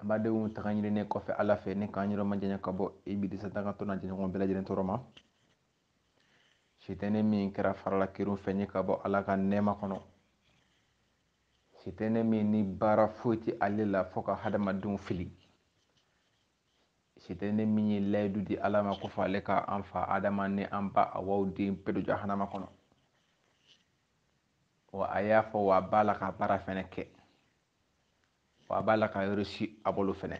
An badenw tanga ɲininen kɔfɛ Ala fɛ ni k'an yɔrɔ majanya ka bɔ Ibilisa dangatɔ n'a jɛɲɔgɔn bɛɛ lajɛlen tɔɔrɔ ma. Sitɛnɛ min kɛra fara la kerun fɛn ye ka bɔ Ala ka nɛɛma kɔnɔ. Sitɛnɛ min ni baara foyi tɛ ale la fo ka hadamadenw fili. Sitɛnɛ min ye layidu di Ala ma ko fo ale ka an fa Adama ni an ba Awa den bɛɛ don jahanama kɔnɔ. Wa a y'a fɔ wa a b'a la k'a baara fɛnɛ kɛ. wa a b'a la ka reyisi a bolo fɛnɛ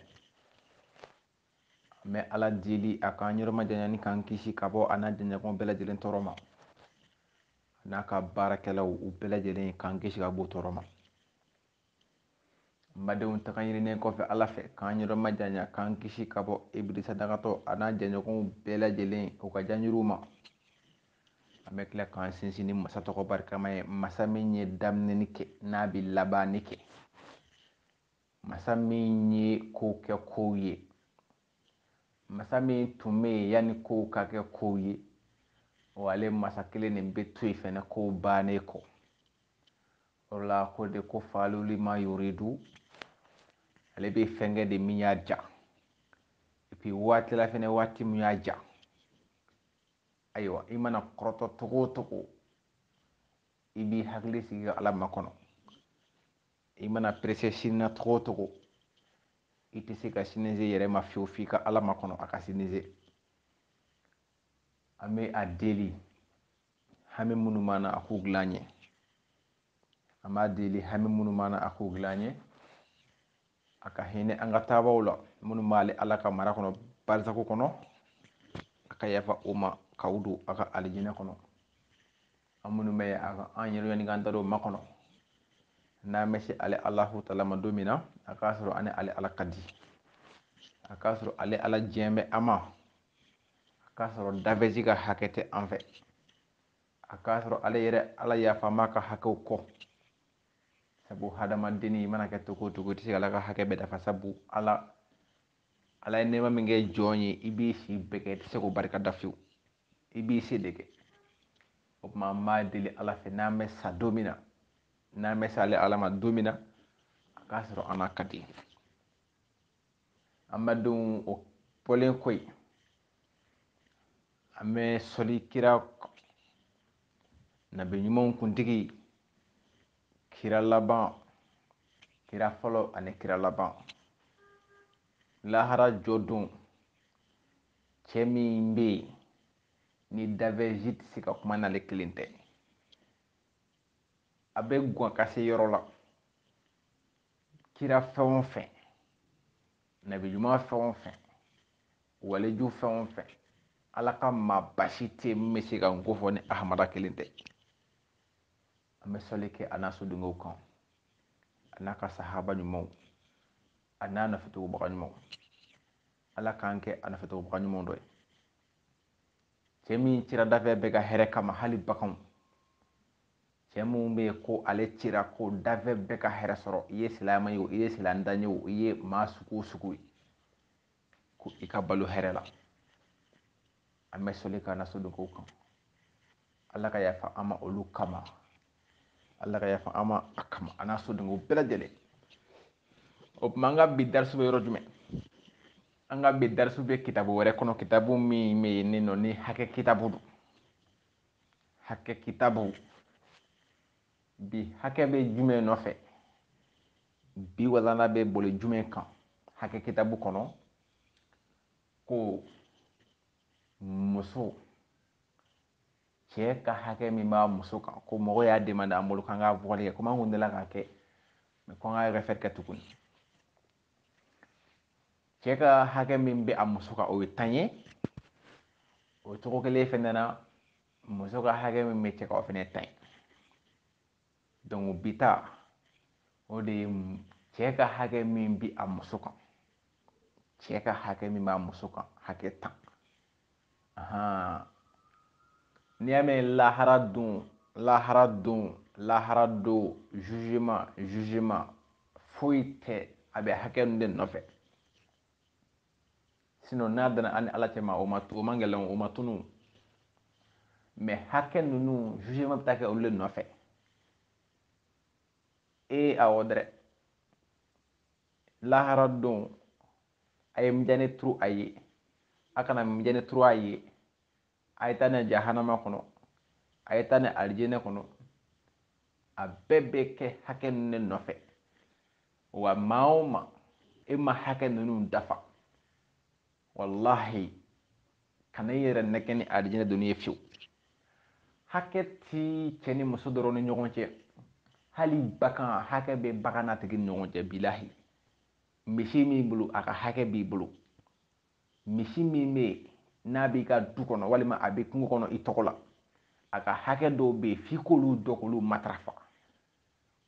an bɛ ala deli a k'an yɔrɔ majanya ni k'an kisi ka bɔ a n'a jɛɲɔgɔn bɛɛ lajɛlen tɔɔrɔ ma n'a ka baarakɛlaw u bɛɛ lajɛlen k'an kisi ka b'u tɔɔrɔ ma badenw tanga ɲininen kɔfɛ ala fɛ k'an yɔrɔ majanya k'an kisi ka bɔ ibilisa dangatɔ a n'a jɛɲɔgɔnw bɛɛ lajɛlen u ka janjuruw ma An bɛ tila k'an sinsin ni masa tɔgɔ barikama ye masa min ye daminɛni kɛ n'a bɛ labanni kɛ masa min ye kow kɛ kow ye masa min tun bɛ yen yanni kow ka kɛ kow ye wa ale masa kelen nin bɛ to yen fɛnɛ kow bannen kɔ o la ko de ko faalu lima yuridu ale bɛ fɛn kɛ de min y'a ja epi waati la fɛnɛ waati min y'a ja ayiwa i mana kɔrɔtɔ togo o togo i b'i hakili sigi ka ala makɔnɔ i mana perese sini na togo o togo i tɛ se ka sini se yɛrɛ ma fiyewu f'i ka ala makɔnɔ a ka sini se an bɛ a deli hami minnu b'an na a k'u dilan an ɲɛ an b'a deli hami minnu b'an na a k'u dilan an ɲɛ a ka hinɛ an ka taabaw la minnu b'ale ala ka mara kɔnɔ barisaku kɔnɔ a ka yafa u ma k'u don a ka alijinɛ kɔnɔ an minnu bɛ a ka an yɛrɛ yanni k'an da don ma kɔnɔ n'an bɛ se ale alahu tala ma don min na a k'a sɔrɔ an ni ale ala ka di a k'a sɔrɔ ale ala diɲɛ bɛ an ma a k'a sɔrɔ danfɛn si ka hakɛ tɛ an fɛ a k'a sɔrɔ ale yɛrɛ ala yafa an ma a ka hakɛw kɔ sabu hadamadenni i mana kɛ togo o togo i tɛ se ka ala ka hakɛ bɛɛ dafa sabu ala ala ye nɛɛma min kɛ jɔn ye i b'i si bɛɛ kɛ i tɛ se k'o barika da fiyewu i b'i se de kɛ o tuma an b'a deli ala fɛ n'an bɛ sa don min na n'an bɛ se ale ala ma don min na a k'a sɔrɔ an n'a ka di an badenw o bɔlen kɔ yen an bɛ sɔli kira nabi ɲumanw kuntigi kira laban kira fɔlɔ ani kira laban lahara jɔ don cɛ min bɛ yen ni danfɛn si tɛ se ka kuma n'ale kelen tɛ a bɛ gwan ka se yɔrɔ la kira fɛn o fɛn nabi ɲuman fɛn o fɛn waliju fɛn o fɛn ala ka maaba si tɛ min bɛ se ka n ko fɔ ni ahamada kelen tɛ an bɛ sɔli kɛ a n'a sodenw kan a n'a ka sahaba ɲumanw a n'a nɔfɛtugubaga ɲumanw ala k'an kɛ a nɔfɛtugubaga ɲumanw dɔ ye cɛ min cira danfɛn bɛɛ ka hɛrɛ kama hali baganw cɛ min bɛ yen ko ale cira ko danfɛn bɛɛ ka hɛrɛ sɔrɔ i ye silamɛ ye o i ye silamɛdan ye o i ye maa sugu o sugu ye ko i ka balo hɛrɛ la an bɛ soli k'a n'a so don kow kan ala ka yafa an ma olu kama ala ka yafa an ma a kama a n'a so don ko bɛɛ lajɛlen o tuma an ka bi darisu bɛ yɔrɔ jumɛn an ka bi darisu bɛ kitabu wɛrɛ kɔnɔ kitabu min bɛ yen ne nɔ ni hakɛ kitabu don hakɛ kitabu bi hakɛ bɛ jumɛn nɔfɛ bi walana bɛ boli jumɛn kan hakɛ kitabu kɔnɔ ko muso cɛ ka hakɛ min b'a muso kan ko mɔgɔ y'a demande an bolo k'an ka vokali kɛ komi an kun delila k'a kɛ mɛ ko an ka refɛri kɛ tuguni cɛ ka hakɛ min bɛ a muso kan o ye tan ye o cogo kelen fɛnɛ na muso ka hakɛ min bɛ cɛ kan o fɛnɛ tan don bi ta o de ye cɛ ka hakɛ min bi a muso kan cɛ ka hakɛ min b'a muso kan hakɛ tan n'i y'a mɛn lahara don lahara don lahara don zuzema zuzema foyi tɛ a bɛ hakɛ ninnu de nɔfɛ sinɔn n'a danna an ni ala cɛma o ma o man gɛlɛn o ma tunu mɛ hakɛ ninnu zuzema bɛ taa kɛ olu de nɔfɛ ee awɔ dɛrɛ lahara don a ye mijani turu a ye a kana mijani turu a ye a ye taa n'a ye jahanama kɔnɔ a ye taa n'a ye alijinɛ kɔnɔ a bɛɛ bɛ kɛ hakɛ ninnu de nɔfɛ wa maa o maa e ma hakɛ ninnu dafa walahi kana i yɛrɛ nɛgɛn ni alijinɛ donni ye fiyewu hakɛ ti cɛ ni muso dɔrɔn ni ɲɔgɔn cɛ hali bagan hakɛ bɛ bagan n'a tigi ni ɲɔgɔn cɛ bilahi Misi min b'i bolo, a ka hakɛ b'i bolo. Misi min bɛ yen, n'a b'i ka du kɔnɔ walima a bɛ kungo kɔnɔ i tɔgɔ la, a ka hakɛ dɔw bɛ yen f'i k'olu dɔ k'olu matarafa.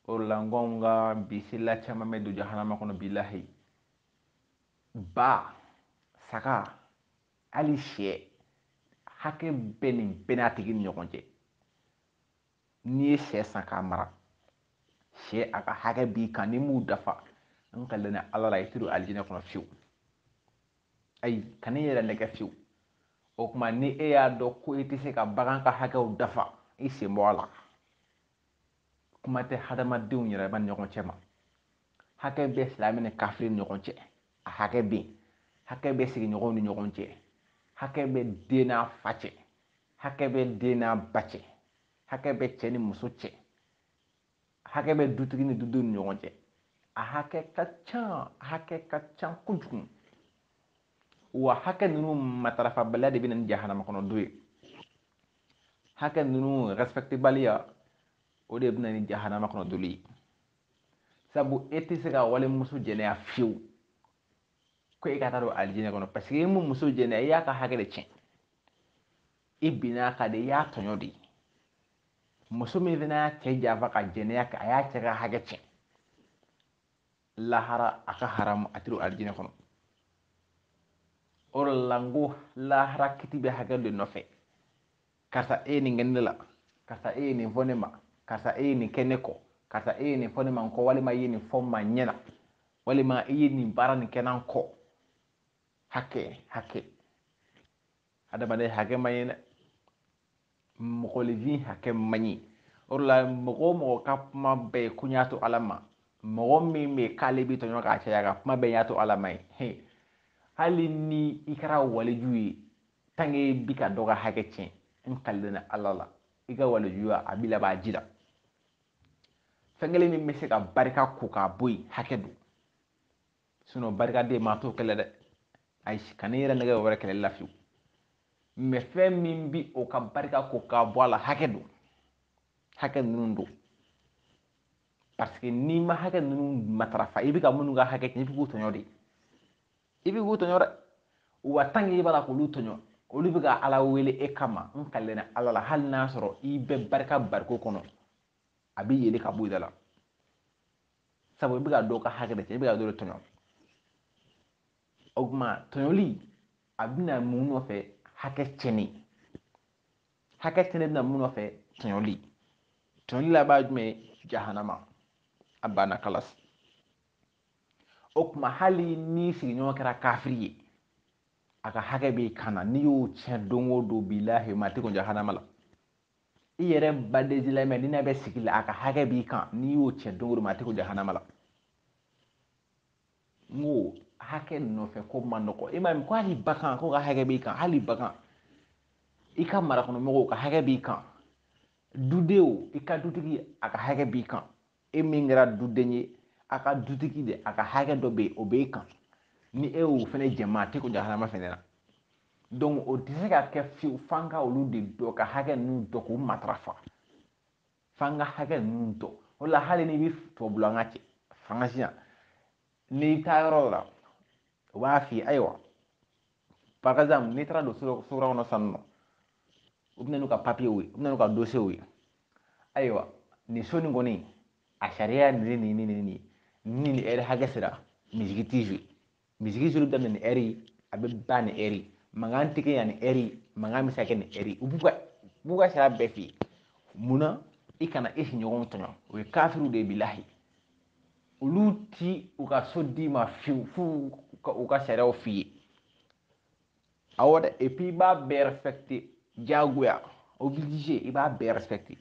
O de la n ko anw ka bi selila caman bɛ don jahanama kɔnɔ bilahi. Ba, saga, hali sɛ, hakɛ bɛ nin bɛɛ n'a tigi ni ɲɔgɔn cɛ. n'i ye sɛ san k'a mara sɛ a ka hakɛ b'i kan n'i m'u dafa n kalena ala la i tɛ don alijinɛ kɔnɔ fiyewu ayi kan'i yɛrɛ nɛgɛn fiyewu o tuma ni e y'a dɔn ko i tɛ se ka bagan ka hakɛw dafa i sen bɔ a la kuma tɛ hadamadenw yɛrɛ ma ɲɔgɔn cɛ ma hakɛ bɛ silamɛ ni kafiri ni ɲɔgɔn cɛ a hakɛ bɛ yen hakɛ bɛ sigiɲɔgɔnw ni ɲɔgɔn cɛ hakɛ bɛ den n'a fa cɛ hakɛ bɛ den n'a ba cɛ hakɛ bɛ cɛ ni muso cɛ hakɛ bɛ dutigi ni dudenw ni ɲɔgɔn cɛ a hakɛ ka ca hakɛ ka ca kojugu wa hakɛ ninnu matarafabaliya de bɛ na ni jahanama kɔnɔ don ye hakɛ ninnu respectebaliya o de bɛ na ni jahanama kɔnɔ donni ye sabu e tɛ se ka walimuso jɛnɛya fiyewu ko e ka taa don alijinɛ kɔnɔ paseke e min muso jɛnɛ e y'a ka hakɛ de tiɲɛ i binn'a kan de i y'a tɔɲɔ de muso min fana y'a cɛ janfa ka jɛnɛya kɛ a y'a cɛ ka hakɛ tiɲɛ lahara a ka haramu a tɛ don alijinɛ kɔnɔ o de la n ko lahara kiti bɛ hakɛ de nɔfɛ karisa e ye nin kɛ ne la karisa e ye nin fɔ ne ma karisa e ye nin kɛ ne kɔ karisa e ye nin fɔ ne ma n kɔ walima i ye nin fɔ n ma ɲɛ na walima i ye nin baara nin kɛ n'an kɔ hakɛ hakɛ adamaden hakɛ man ɲi dɛ mɔgɔninfin hakɛ man ɲi o de la mɔgɔ o mɔgɔ ka kuma bɛɛ ye ko n y'a to ala ma mɔgɔ min bɛ k'ale bɛ tɔɲɔ k'a caya ka kuma bɛɛ y'a to ala ma ye hali ni i kɛra waliju ye tant qu'e bi ka dɔ ka hakɛ tiɲɛ n kalilen na ala la i ka walijuya a bi laban ji la fɛn kelen min bɛ se ka barika ko k'a bɔ yen hakɛ don sinɔn barikaden maa t'o kɛlɛ dɛ ayi kan'i yɛrɛ nɛgɛn wɛrɛ kɛlɛli la fiyewu mɛ fɛn min bi o ka barika ko k'a bɔ a la hakɛ don hakɛ ninnu don parce que n'i ma hakɛ ninnu matarafa i bɛ ka minnu ka hakɛ tiɲɛ i bɛ k'u tɔɲɔ de i bɛ k'u tɔɲɔ dɛ wa tant qu'i b'a la k'olu tɔɲɔ olu bɛ ka ala wele e kama n kalena ala la hali n'a sɔrɔ i bɛ barika bariko kɔnɔ a bɛ yeele ka bɔ i da la sabu i bɛ ka dɔw ka hakɛ de cɛn i bɛ ka dɔw de tɔɲɔ o tuma tɔɲɔli a bɛ na mun nɔfɛ hakɛ cɛnni hakɛ cɛnni bɛ na mun nɔfɛ tɔɲɔli tɔɲɔli laban jumɛn jahanama a banna kalasi o tuma hali n'i sigiɲɔgɔn kɛra kafiri ye a ka hakɛ b'i kan na n'i y'o tiɲɛ don o don bilahi maa t'i kɔn jahanama la i yɛrɛ badensilamɛ n'i n'a bɛ sigi la a ka hakɛ b'i kan n'i y'o tiɲɛ don o don maa t'i kɔn jahanama la n ko hakɛ nɔfɛ ko man nɔgɔ i m'a ye ko hali bagan k'o ka hakɛ b'i kan hali bagan i ka marakɔnɔmɔgɔw ka hakɛ b'i kan dudenw i ka dutigi a ka hakɛ b'i kan e min kɛra duden ye a ka dutigi de a ka hakɛ dɔ bɛ yen o b'e kan ni e y'o fana tiɲɛ maa t'i kɔn jahanama fana na donc o tɛ se ka kɛ fiyewu f'an ka olu de dɔn ka hakɛ ninnu dɔn k'u matarafa f'an ka hakɛ ninnu dɔn o la hali n'i bɛ tubabula an ka cɛ faransi yan n'i taa yɔrɔ la u b'a f'i ye ayiwa par exemple n'i taara don so kura kɔnɔ san nɔ u bɛ na n'u ka papiyew ye u bɛ na n'u ka dosiyew ye ayiwa nin so nin kɔni a sariya nin nin nin nin nin ni nin ɛri hakɛ sera misigi t'i fɛ misigi suru daminɛ nin ɛri a bɛ ban nin ɛri mankan tɛ kɛ yan nin ɛri mankan bɛ se ka kɛ nin ɛri u b'u ka b'u ka sariya bɛɛ f'i ye mun na i kana i sigiɲɔgɔnw tɔɲɔ o ye kafiriw de ye bilahi olu t'u ka so d'i ma fiyewu f'u ka u ka sariyaw f'i ye awɔ dɛ et puis i b'a bɛɛ respecté diyagoya obligé i b'a bɛɛ respecté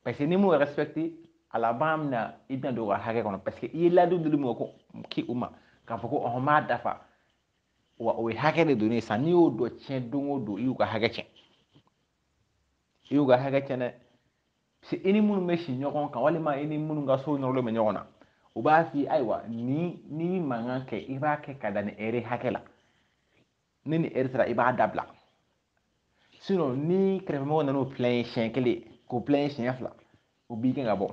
parce que n'i m'o respecté a laban bɛna i bɛna don u ka hakɛ kɔnɔ parce que i ye layidu di mɔgɔ ko k'i u ma k'a fɔ ko ɔhɔn n b'a dafa wa o ye hakɛ de don ne san n'i y'o dɔ tiɲɛ don o don i y'u ka hakɛ tiɲɛ i y'u ka hakɛ tiɲɛ dɛ parce que i ni minnu bɛ sigi ɲɔgɔn kan walima i ni minnu ka so nɔrɔlen bɛ ɲɔgɔn na u b'a f'i ye ayiwa ni n'i bɛ mankan kɛ i b'a kɛ ka da nin ɛri hakɛ la ni nin ɛri sera i b'a dabila sinɔn n'i kɛrɛfɛmɔgɔ nana u plaigné siɲɛ kelen k'u plaigné siɲɛ fila u b'i gɛn ka bɔ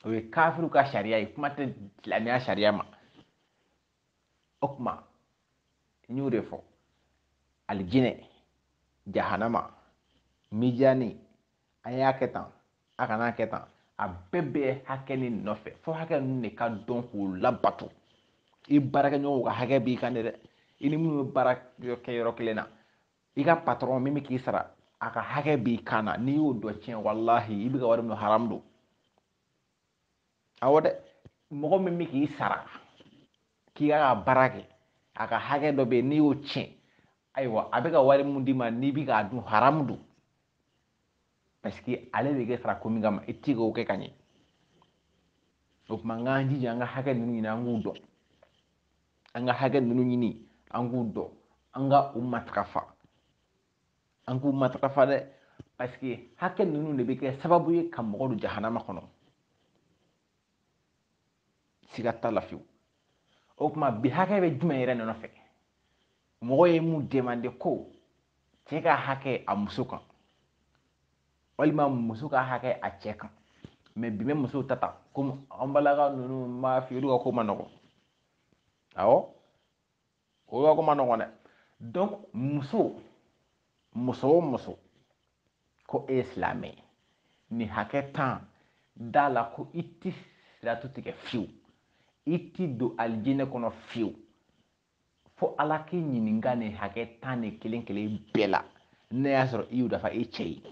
o ye kafiriw ka sariya ye kuma tɛ silamɛya sariya ma o tuma n y'o de fɔ alijinɛ jahanama mijani a y'a kɛ tan a kan'a kɛ tan a bɛɛ bɛ hakɛ nin nɔfɛ fo hakɛ ninnu de ka dɔn k'u labato i baarakɛɲɔgɔnw ka hakɛ b'i kan de dɛ i ni minnu bɛ baara kɛ yɔrɔ kelen na i ka patɔrɔn min bɛ k'i sara a ka hakɛ b'i kan na n'i y'o dɔ tiɲɛ walahi i bɛ ka wari min dun haramu don awɔ dɛ mɔgɔ min bɛ k'i sara k'i k'a ka baara kɛ a ka hakɛ dɔ bɛ yen n'i y'o tiɲɛ ayiwa a bɛ ka wari min d'i ma n'i bɛ k'a dun haramu don parce que ale bɛ k'i sara ko min kama i tɛ k'o kɛ ka ɲɛ o tuma an k'an jija an ka hakɛ ninnu ɲini an k'u dɔn an ka hakɛ ninnu ɲini an k'u dɔn an ka u matarafa an k'u matarafa dɛ parce que hakɛ ninnu de bɛ kɛ sababu ye ka mɔgɔ don jahanama kɔnɔ siga t'a la fiyewu o tuma bi hakɛ bɛ jumɛn yɛrɛ nɔfɛ mɔgɔ ye mun demande ko cɛ ka hakɛ a muso kan walima muso ka hakɛ a cɛ kan mɛ bi bɛ musow ta ta komi an balaka ninnu b'a fɛ olu ka ko man nɔgɔn awɔ o yɔrɔ ko man nɔgɔn dɛ donc muso muso o muso ko e ye silamɛ ye nin hakɛ tan da a la ko i ti siratu tigɛ fiyewu i ti don alijinɛ kɔnɔ fiyewu fo ala k'i ɲininka nin hakɛ tan ni kelen kelen bɛɛ la n'a y'a sɔrɔ i y'u dafa i cɛ ye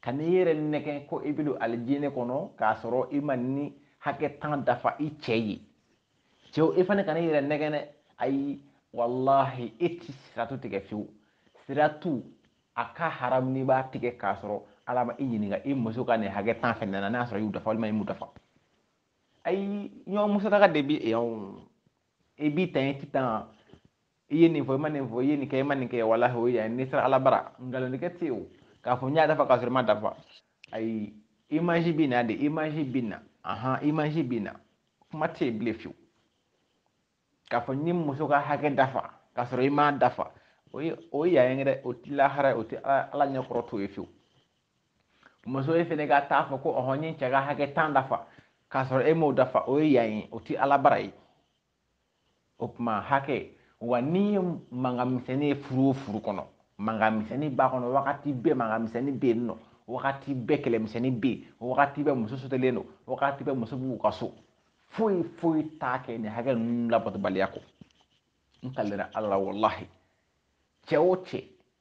Kan'i yɛrɛ nɛgɛn ko i bɛ don alijinɛ kɔnɔ k'a sɔrɔ i ma nin hakɛ tan dafa i cɛ ye cɛw i fana kana i yɛrɛ nɛgɛn dɛ ayi walahi e ti siratu tigɛ fiyewu siratu a ka haramu n'i b'a tigɛ k'a sɔrɔ ala ma i ɲininka i muso ka nin hakɛ tan fɛnɛ na n'a sɔrɔ i y'u dafa walima i m'u dafa ayi ɲɔgɔn musalaka de bi yan i b'i tanya k'i tanga i ye nin fɔ i ma nin fɔ i ye nin kɛ i ma nin kɛ walahi o ye yan n'i sera ala bara nkalontigɛ tɛ o k'a fɔ n y'a dafa k'a sɔrɔ i m'a dafa ayi imaji bɛ na de imaji bɛ na ahan imaji bɛ na kuma tɛ yen bilen fiyewu k'a fɔ n ye muso ka hakɛ dafa k'a sɔrɔ i m'a dafa o ye o ye yan ye dɛ o tɛ lahara ye o tɛ ala ɲɛkɔrɔ t'o ye fiyewu muso e fana ka t'a fɔ ko ɔhɔn n ye cɛ ka hakɛ tan dafa k'a sɔrɔ e m'o dafa o ye yan ye o tɛ ala bara ye o tuma hakɛ wa n'i ye mankan misɛnnin ye furu o furu kɔnɔ mankan misɛnnin b'a kɔnɔ wagati bɛɛ mankan misɛnnin bɛ yen nɔ wagati bɛɛ kɛlɛmisɛnnin bɛ yen wagati bɛɛ muso sotelen don wagati bɛɛ muso b'u ka so foyi foyi t'a kɛ nin hakɛ ninnu labatobaliya kɔ n kalira ala la walahi cɛ o cɛ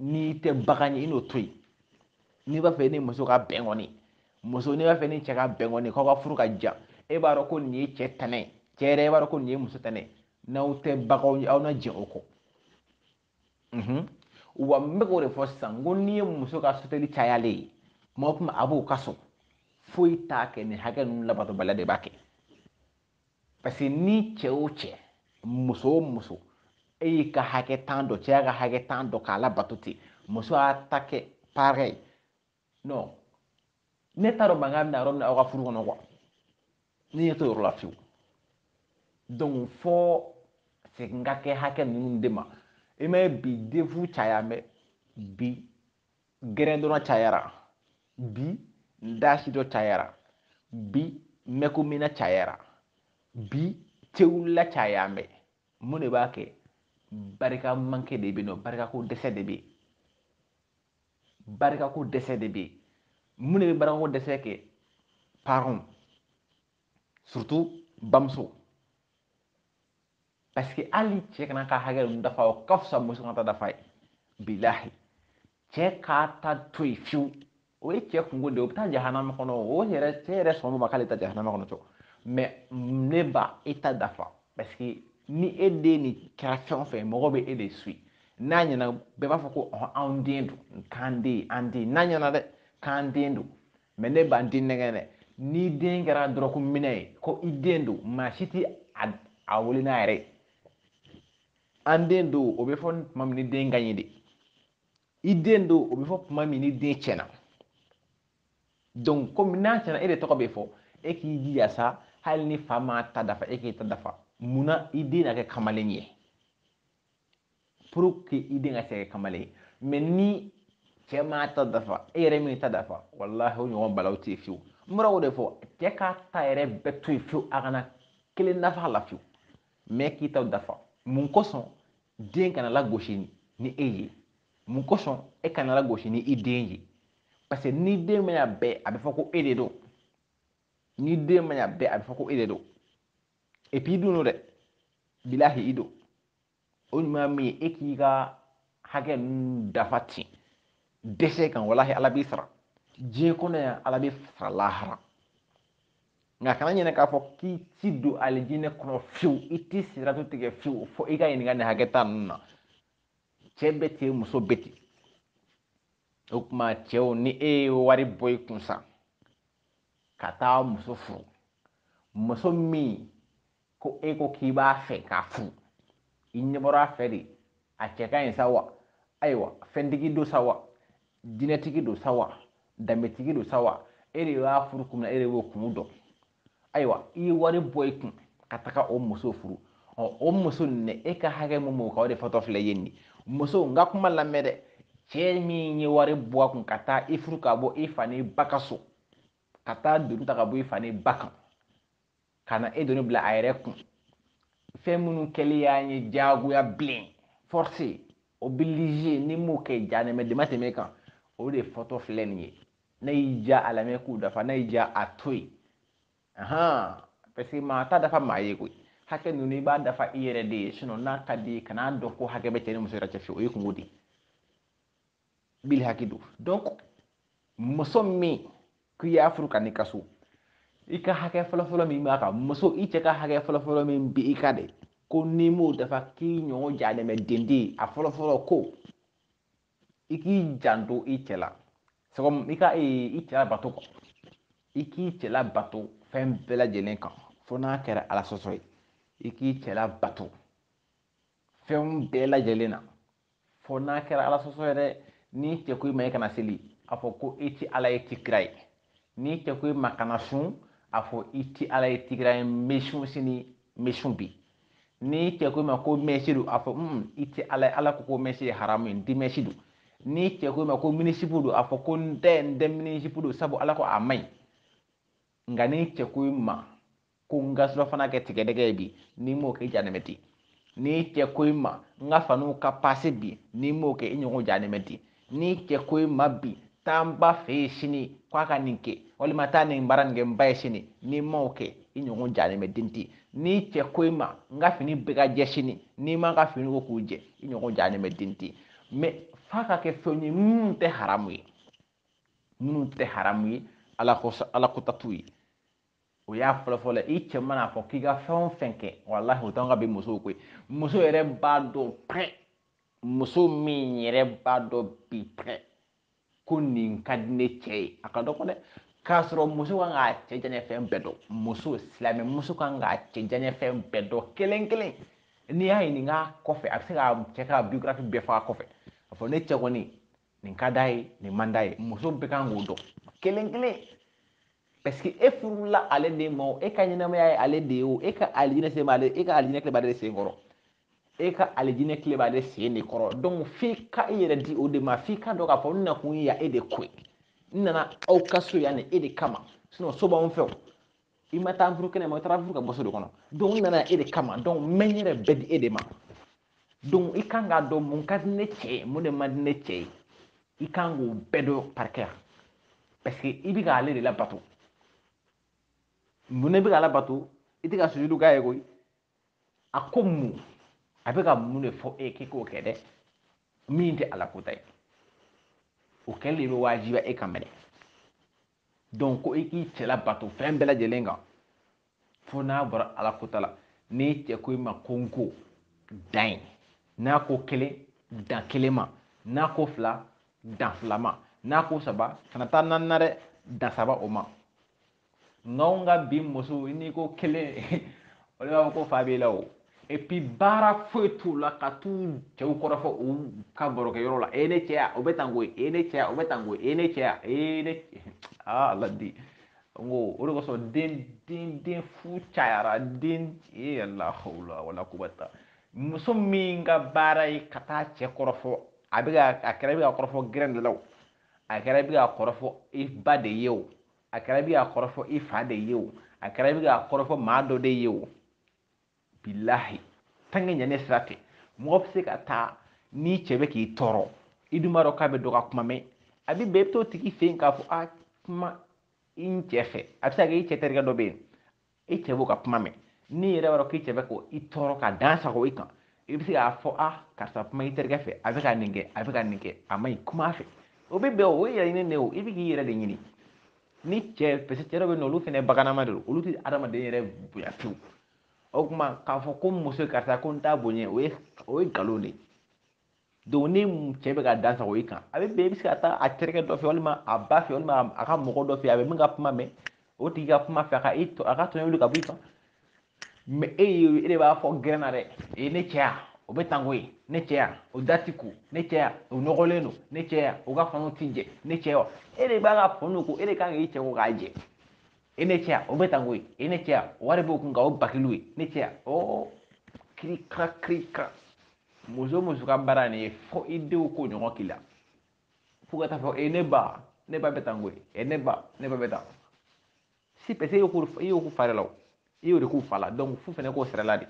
n'i tɛ bagan ye i n'o to yen n'i b'a fɛ i ni muso ka bɛn kɔni muso n'i b'a fɛ i ni cɛ ka bɛn kɔni k'aw ka furu ka diya e b'a dɔn ko nin ye cɛ tɛnɛ cɛ yɛrɛ e b'a dɔn ko nin ye muso tɛnɛ n'aw tɛ baganw ye aw na jɛ o kɔ wa n bɛ k'o de fɔ sisan ko n'i ye muso ka soteli cayalen ye tuma o tuma a b'u ka so foyi t'a kɛ nin hakɛ ninnu labatobaliya de b'a kɛ parce que ni cɛ o cɛ muso o muso e y'i ka hakɛ tan dɔn cɛ y'a ka hakɛ tan dɔn k'a labato ten muso y'a ta kɛ pareil non ne t'a dɔn mankan bɛ na yɔrɔ min na aw ka furu kɔnɔ quoi ne ɲɛ t'o yɔrɔ la fiyewu donc fo segin ka kɛ hakɛ ninnu de ma i m'a ye bi de furu caya mɛ bi gɛrɛndonna cayara bi ndaasi dɔ cayara bi mɛkomina cayara bi tewulila cayalen bɛ mun de b'a kɛ barika manque de bɛ nɔ barikako dɛsɛ de bɛ barikako dɛsɛ de bɛ mun de bɛ barikako dɛsɛ kɛ parents surtout bamuso parce que hali cɛ kan'a ka hakɛ ninnu dafa o ka fisa muso kan'a ta dafa ye bilahi cɛ k'a ta to yen fiyewu o ye cɛ kunko de ye o bɛ taa jahanama kɔnɔ o yɛrɛ cɛ yɛrɛ sɔn ma k'ale taa jahanama kɔnɔ cɔ mais ne ba e ta dafa parce que ni e den nin kɛra fɛn o fɛn mɔgɔ bɛ e de su n'a ɲɛna bɛɛ b'a fɔ ko ɔhɔn anw den don k'an den an den n'a ɲɛna dɛ k'an den don Mais ne ba n t'i nɛgɛn dɛ. N'i den kɛra dɔrɔku minna ye, ko i den don, maa si t'i a a wele n'a yɛrɛ ye. An den don, o bɛ fɔ tuma min ni den ka ɲi de. I den don, o bɛ fɔ tuma min ni den cɛnna. Donc komi n'a cɛnna e de tɔgɔ bɛ fɔ, e k'i jija sa, hali ni fa m'a ta dafa, e k'i ta dafa. Mun na i den na kɛ kamalen ye? pour que i den ka se ka kɛ kamalen ye mais ni cɛ m'a ta dafa e yɛrɛ m'i ta dafa walahi o ɲɔgɔn balawu tɛ fiyewu n bɔra o de fɔ cɛ k'a ta yɛrɛ bɛɛ to yen fiyewu a kana kelen dafa la fiyewu mais e k'i ta dafa mun kosɔn den kana lagosi ni e ye mun kosɔn e kana lagosi ni i den ye parce que ni den ma ɲa bɛɛ a bɛ fɔ ko e de don ni den ma ɲa bɛɛ a bɛ fɔ ko e de don et puis i dun don dɛ bilahi i don o ɲuman min ye e k'i ka hakɛ ninnu dafa ten dɛsɛ kan walahi ala b'i sara diɲɛ kɔnɔ yan ala b'i sara lahara nka kana ɲinɛ k'a fɔ k'i tɛ don alijinɛ kɔnɔ fiyewu i tɛ siratu tigɛ fiyewu fo i ka ɲininka nin hakɛ tan ninnu na cɛ bɛ ten muso bɛ ten o tuma cɛw ni e ye wari bɔ i kun sa ka taa muso furu muso min ko e ko k'i b'a fɛ k'a furu i ɲɛ bɔra a fɛ de a cɛ ka ɲi sa wa ayiwa fɛntigi don sa wa dinɛtigi don sa wa danbetigi don sa wa e de b'a furu kun na e de b'o kun dɔn ayiwa i ye wari bɔ i kun ka taga o muso furu ɔ o muso nin e ka hakɛ mun b'o kan o de fɔtɔ filɛ ye nin muso n ka kuma lamɛn dɛ cɛ min ye wari bɔ a kun ka taa i furu ka bɔ i fa n'i ba ka so ka taa doni ta ka bɔ i fa n'i ba kan ka na e doni bila a yɛrɛ kun fɛn minnu kɛli y'a ye diyagoya bilen force oblige n'i m'o kɛ jahanama dama tɛmɛ kan o de fɔtɔ filɛ nin ye n'a y'i diya a lamɛn k'u dafa n'a y'i diya a to yen ahan parce que maa t'a dafa maa ye koyi hakɛ ninnu i b'a dafa i yɛrɛ de ye sinon n'a ka di ye kan'a dɔn ko hakɛ bɛ cɛ ni muso yɛrɛ cɛ fiyewu o ye kunko de ye bili hakɛ don donc muso min k'i y'a furu ka n'i ka so i ka hakɛ fɔlɔfɔlɔ min b'a kan muso i cɛ ka hakɛ fɔlɔfɔlɔ min bɛ i kan dɛ ko n'i m'o dafa k'i ɲɔgɔn janɛmɛ den tɛ a fɔlɔfɔlɔ ko i k'i janto i cɛ la sɛgɔm i ka e, i cɛ labato ko i k'i cɛ labato fɛn bɛɛ lajɛlen kan fo n'a kɛra ala sɔsɔ ye i k'i cɛ labato fɛnw bɛɛ lajɛlen na fo n'a kɛra ala sɔsɔ ye dɛ n'i cɛ ko i ma i kana seli a fɔ ko i tɛ ala ye i tɛ kira ye n'i cɛ ko i ma kana sun a fɔ i tɛ ala ye i tɛ kira ye n bɛ sun sini n bɛ sun bi n'i cɛ ko i ma ko mɛsi don a fɔ mm, i tɛ ala ye ala ko ko mɛsi ye haramu ye n tɛ mɛsi don n'i cɛ ko i ma ko minisipu don a fɔ ko n tɛ n tɛ minisipu don sabu ala ko a man ɲi nka n'i cɛ ko i ma ko n ka surafana kɛ tigadɛgɛ ye bi n'i m'o kɛ janɛmɛ ten n'i cɛ ko i ma n ka fanuw ka pase bi n'i m'o kɛ i ɲɔgɔn janɛmɛ den n'i cɛ ko i ma bi taa n ba fɛ yen sini ko a ka nin kɛ walima taa nin baara nin kɛ n ba ye sini n'i m'o kɛ i ɲɔgɔn janɛmɛ den tɛ n'i cɛ ko i ma n ka fini bɛɛ ka jɛ sini n'i m'a ka fini ko k'u jɛ i ɲɔgɔn janɛmɛ den tɛ mais f'a ka kɛ fɛnw ye minnu tɛ haramu ye minnu tɛ haramu ye ala kɔnta t'u ye o y'a fɔlɔfɔlɔ i cɛ mana fɔ k'i ka fɛn o fɛn kɛ walahi o t'an ka bi musow ko ye muso yɛrɛ b'a dɔn pɛrɛ muso min yɛrɛ b'a dɔn bi pɛrɛ ko nin ka di ne cɛ ye a ka dɔgɔ dɛ k'a sɔrɔ muso kan k'a cɛ diyanye fɛn bɛɛ dɔn muso silamɛ muso kan k'a cɛ diyanye fɛn bɛɛ dɔn kelen kelen n'i y'a ɲininka kɔfɛ a bɛ se k'a cɛ ka biographie bɛɛ fɔ a kɔfɛ a fɔ ne cɛ kɔni nin ka d'a ye nin man d'a ye muso bɛɛ kan k'o dɔn kelen kelen parce que e furula ale de ma o e ka ɲɛnamaya ye ale de ye o e ka alijinɛ se b'ale e ka alijinɛ kile b'ale sen kɔrɔ e ka alijinɛ kile b'ale sen de kɔrɔ donc f'i ka i yɛrɛ di o de ma f'i k'a dɔn k'a fɔ n nakun ye yan e de ko ye n nana aw ka so yan ni e de kama sinon so b'anw fɛ o i ma taa furu kɛnɛ ma i taara furu ka bɔ so de kɔnɔ donc n nana e de kama donc n bɛ n yɛrɛ bɛɛ di e de ma donc i kan k'a dɔn mun ka di ne cɛ ye mun de man di ne cɛ ye i kan k'o bɛɛ dɔn parikɛya parce que i bɛ k'ale de labato mun ne bɛ k'ale bato i tɛ ka sujudu k'a ye koyi a ko mun a bɛ ka mun de fɔ e k'i k'o kɛ dɛ min tɛ ala kɔnta ye o kɛlen de bɛ wajibiya e kan maintenant donc ko i k'i cɛ labato fɛn bɛɛ lajɛlen kan fo n'a bɔra ala kota la n'i cɛ ko i ma ko n ko dan yen n'a ko kelen dan kelen ma n'a ko fila dan fila ma n'a ko saba kana taa naani na dɛ dan saba o ma nka an ka bi muso n'i ko kelen o de b'a fɔ ko fa b'i la o et puis baara foyi t'u la ka t'u cɛw kɔrɔfɔ u ka barokɛyɔrɔ la e ne cɛya o bɛ tan koyi e ne cɛya o bɛ tan koyi e ne cɛya e ne aa ala di n ko o de kosɔn den den den fu cayara dɛ e la hawla wala kuwata muso min ka baara ye ka taa cɛ kɔrɔfɔ a bɛ a kɛra i bɛ k'a kɔrɔfɔ gɛrɛn de la o a kɛra i bɛ k'a kɔrɔfɔ i ba de ye o a kɛra i bɛ k'a kɔrɔfɔ i fa de ye o a kɛra i bɛ k'a kɔrɔfɔ maa dɔ de ye o bilahi tange ɲanɛ sira tɛ mɔgɔ bɛ se ka taa n'i cɛ bɛ k'i tɔɔrɔ i dun b'a dɔn k'a bɛ dɔ ka kuma mɛn a bɛ bɛn i bɛ t'o tigi fɛ yen k'a fɔ a kuma i n cɛ fɛ a bɛ se ka kɛ i cɛ terikɛ dɔ bɛ yen i cɛ b'o ka kuma mɛn n'i yɛrɛ b'a dɔn k'i cɛ bɛ k'i tɔɔrɔ ka dan sagon i kan i bɛ se k'a fɔ a karisa kuma i terikɛ fɛ a bɛ ka nin kɛ a bɛ ka nin kɛ a man ɲi kuma a fɛ o bɛ bɛn o ye yɛrɛ ɲini de ye o i bɛ k'i yɛrɛ de ɲini ni cɛ parce que cɛ dɔw bɛ yen o olu fana baganma de don olu tɛ adamaden yɛrɛ bonya fiyewu o tuma k'a fɔ ko muso karisa ko n t'a bonya o ye o ye nkalon de ye donc ni cɛ bɛ ka dan sagon i kan a bɛ bɛn i bɛ se ka taa a terikɛ dɔ fɛ walima a ba fɛ walima a ka mɔgɔ dɔ fɛ a bɛ min ka kuma mɛn o tigi ka kuma a fɛ a ka i a ka tɔɲɔ wuli ka bɔ i kan mais e ye e de b'a fɔ gɛrɛn na dɛ e ne cɛya o bɛ tan koyi ne cɛya o da ti ko ne cɛya o nɔgɔlen don ne cɛya o ka faniw ti jɛ ne cɛya e de b'a ka faniw ko e de ka kan k'i cɛ ko k'a jɛ e ne cɛya o bɛ tan koyi e ne cɛya wari b'o kun nka o bakiliw ye ne cɛya o kirika kirika muso muso ka baara nin ye fo i denw k'o ɲɔgɔn k'i la fo ka t'a fɔ e ne ba ne ba bɛ tan koyi e ne ba ne ba bɛ tan si parce que e y'o k'u e y'o k'u fa de la o e y'o de k'u fa la donc f'u fɛnɛ k'o sara i la dɛ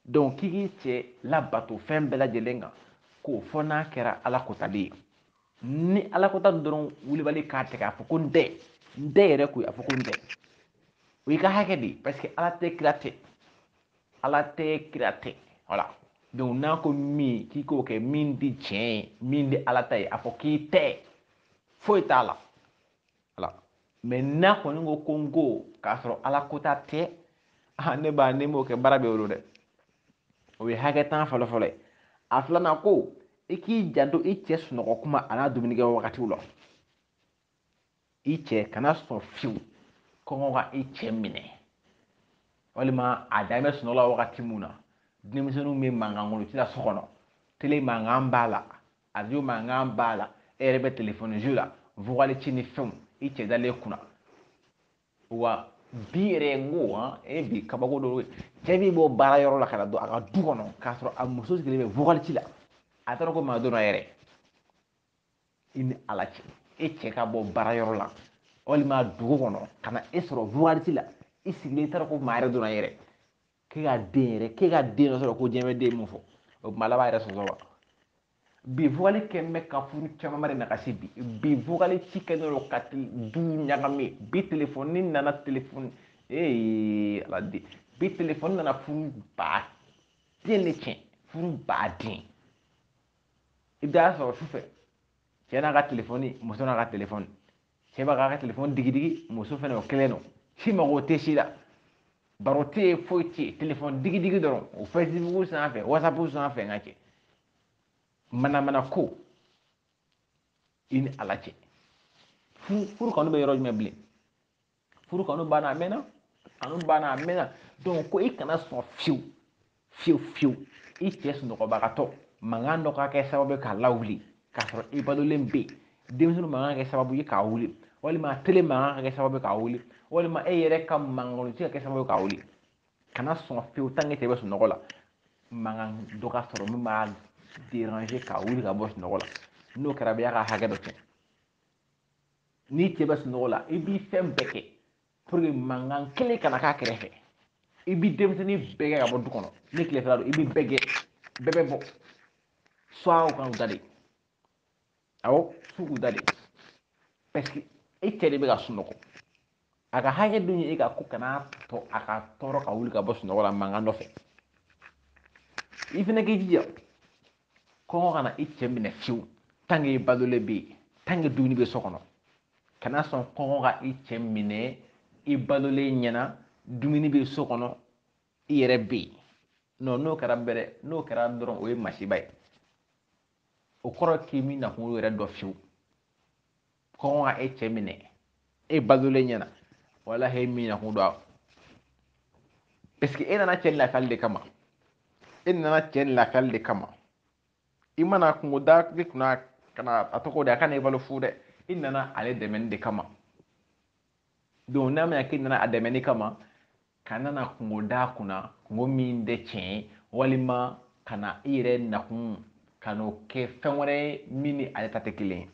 donc k'i k'i cɛ labato fɛn bɛɛ lajɛlen kan ko fo n'a kɛra ala kotali ye ni ala kota dɔrɔn wulibali k'a tigɛ a fɔ ko n tɛ n tɛ yɛrɛ ko a fɔ ko n tɛ o y'i ka hakɛ de ye parce que ala tɛ kira tɛ ala tɛ kira tɛ voilà donc n'a ko min k'i k'o kɛ min tɛ tiɲɛ ye min tɛ ala ta ye a fɔ k'i tɛ foyi t'a la ala mais n'a kɔni ko ko n ko k'a sɔrɔ ala kota tɛ ne b'a ne m'o kɛ baara bɛ wolo dɛ o ye hakɛ tan fɔlɔ fɔlɔ ye a filanan ko i k'i janto i cɛ sunɔgɔ tuma an'a dumunikɛ wagatiw la i cɛ kana sɔn fiyewu kɔngɔ ka i cɛ minɛ walima a dalen bɛ sunɔgɔ la wagati min na denmisɛnninw bɛ mankan kɔnɔ u tɛna so kɔnɔ tele mankan b'a la Arajo mankan b'a la e yɛrɛ bɛ telefɔni jeu la vokali ci ni fɛnw i cɛ dalen kunna wa bi yɛrɛ n ko hɔn e bi kabako dɔ cɛ min bɔ baara yɔrɔ la ka na don a ka du kɔnɔ k'a sɔrɔ a muso sigilen bɛ vokali ci la a t'a dɔn ko maa donna yɛrɛ i ni ala cɛ e cɛ ka bɔ baara yɔrɔ la walima dugu kɔnɔ ka na e sɔrɔ vokali ci la i sigilen i t'a dɔn ko maa yɛrɛ donna yɛrɛ k'e ka den yɛrɛ k'e ka den dɔ sɔrɔ ko diɲɛ bɛ den mun fɔ o tuma ala b'a yɛrɛ sɔsɔ wa bi vokali kɛ bɛ ka furu caman de nagasi bi bi vokali ci kɛ dɔrɔn ka ti du ɲagami bi telefɔni ni nana telefɔni ee ala de bi telefɔni nana furu ba den de tiɲɛ furu ba den i bɛ taa sɔrɔ sufɛ cɛ n'a ka telefɔni muso n'a ka telefɔni cɛ b'a ka telefɔni digidigi muso fana o kelen don si mago tɛ si la baro tɛ yen foyi tɛ yen telefɔni digidigi dɔrɔn o fɛsibuku sanfɛ wasapu sanfɛ n ka cɛ manamana ko i ni ala cɛ furu kanu bɛ yɔrɔ jumɛn bilen furu kanu banna a mɛnna kanu banna a mɛnna donc ko i kana sɔn fiyewu fiyewu fiyewu i cɛ sunɔgɔbagatɔ mankan dɔ ka kɛ sababu ye k'a lawuli k'a sɔrɔ i balolen bɛ yen denmisɛnnin mankan kɛ sababu ye k'a wuli walima tele mankan ka kɛ sababu ye k'a wuli walima e yɛrɛ ka mankan de ka kɛ sababu ye k'a wuli kana sɔn fiyewu tant que cɛ bɛ sunɔgɔ la mankan dɔ ka sɔrɔ min b'a déranger k'a wuli ka bɔ sunɔgɔ la n'o kɛra e y'a ka hakɛ dɔ kɛ n'i cɛ bɛ sunɔgɔ la i b'i fɛn bɛɛ kɛ pour que mankan kelen kana k'a kɛrɛfɛ i bi denmisɛnnin bɛɛ gɛn ka bɔ du kɔnɔ ni tilefɛla don i bi bɛɛ gɛn bɛɛ bɛ bɔ soit u ka u da de awɔ f'u k'u da de parce que e cɛ de bɛ ka sunɔgɔ a ka hakɛ dɔ ye e kan ko kana to a ka tɔɔrɔ ka wuli ka bɔ sunɔgɔ la mankan nɔfɛ i fana k'i jija kɔngɔ kana i cɛ minɛ fiyewu tant qu'e balolen bɛ yen tant que dumuni bɛ so kɔnɔ kana sɔn kɔngɔ ka i cɛ minɛ i balolen ɲɛna dumuni bɛ so kɔnɔ i yɛrɛ bɛ yen nɔ n'o kɛra bɛrɛ n'o kɛra dɔrɔn o ye masiba ye o kɔrɔ k'i m'i nakun yɛrɛ dɔn fiyewu kɔngɔ ka e cɛ minɛ e balolen ɲɛna walahi e m'i nakun dɔn parce que e nana cɛ lakali de kama e nana cɛ lakali de kama i ma na kunko da ne kunna kana a tɔgɔ de a kana i balo fu dɛ i nana ale dɛmɛni de kama donc n'a mɛnna k'i nana a dɛmɛni kama kana na kunko da kunna kunko min tɛ tiɲɛ ye walima kana i yɛrɛ nakun kan'o kɛ fɛn wɛrɛ ye min ni ale ta tɛ kelen ye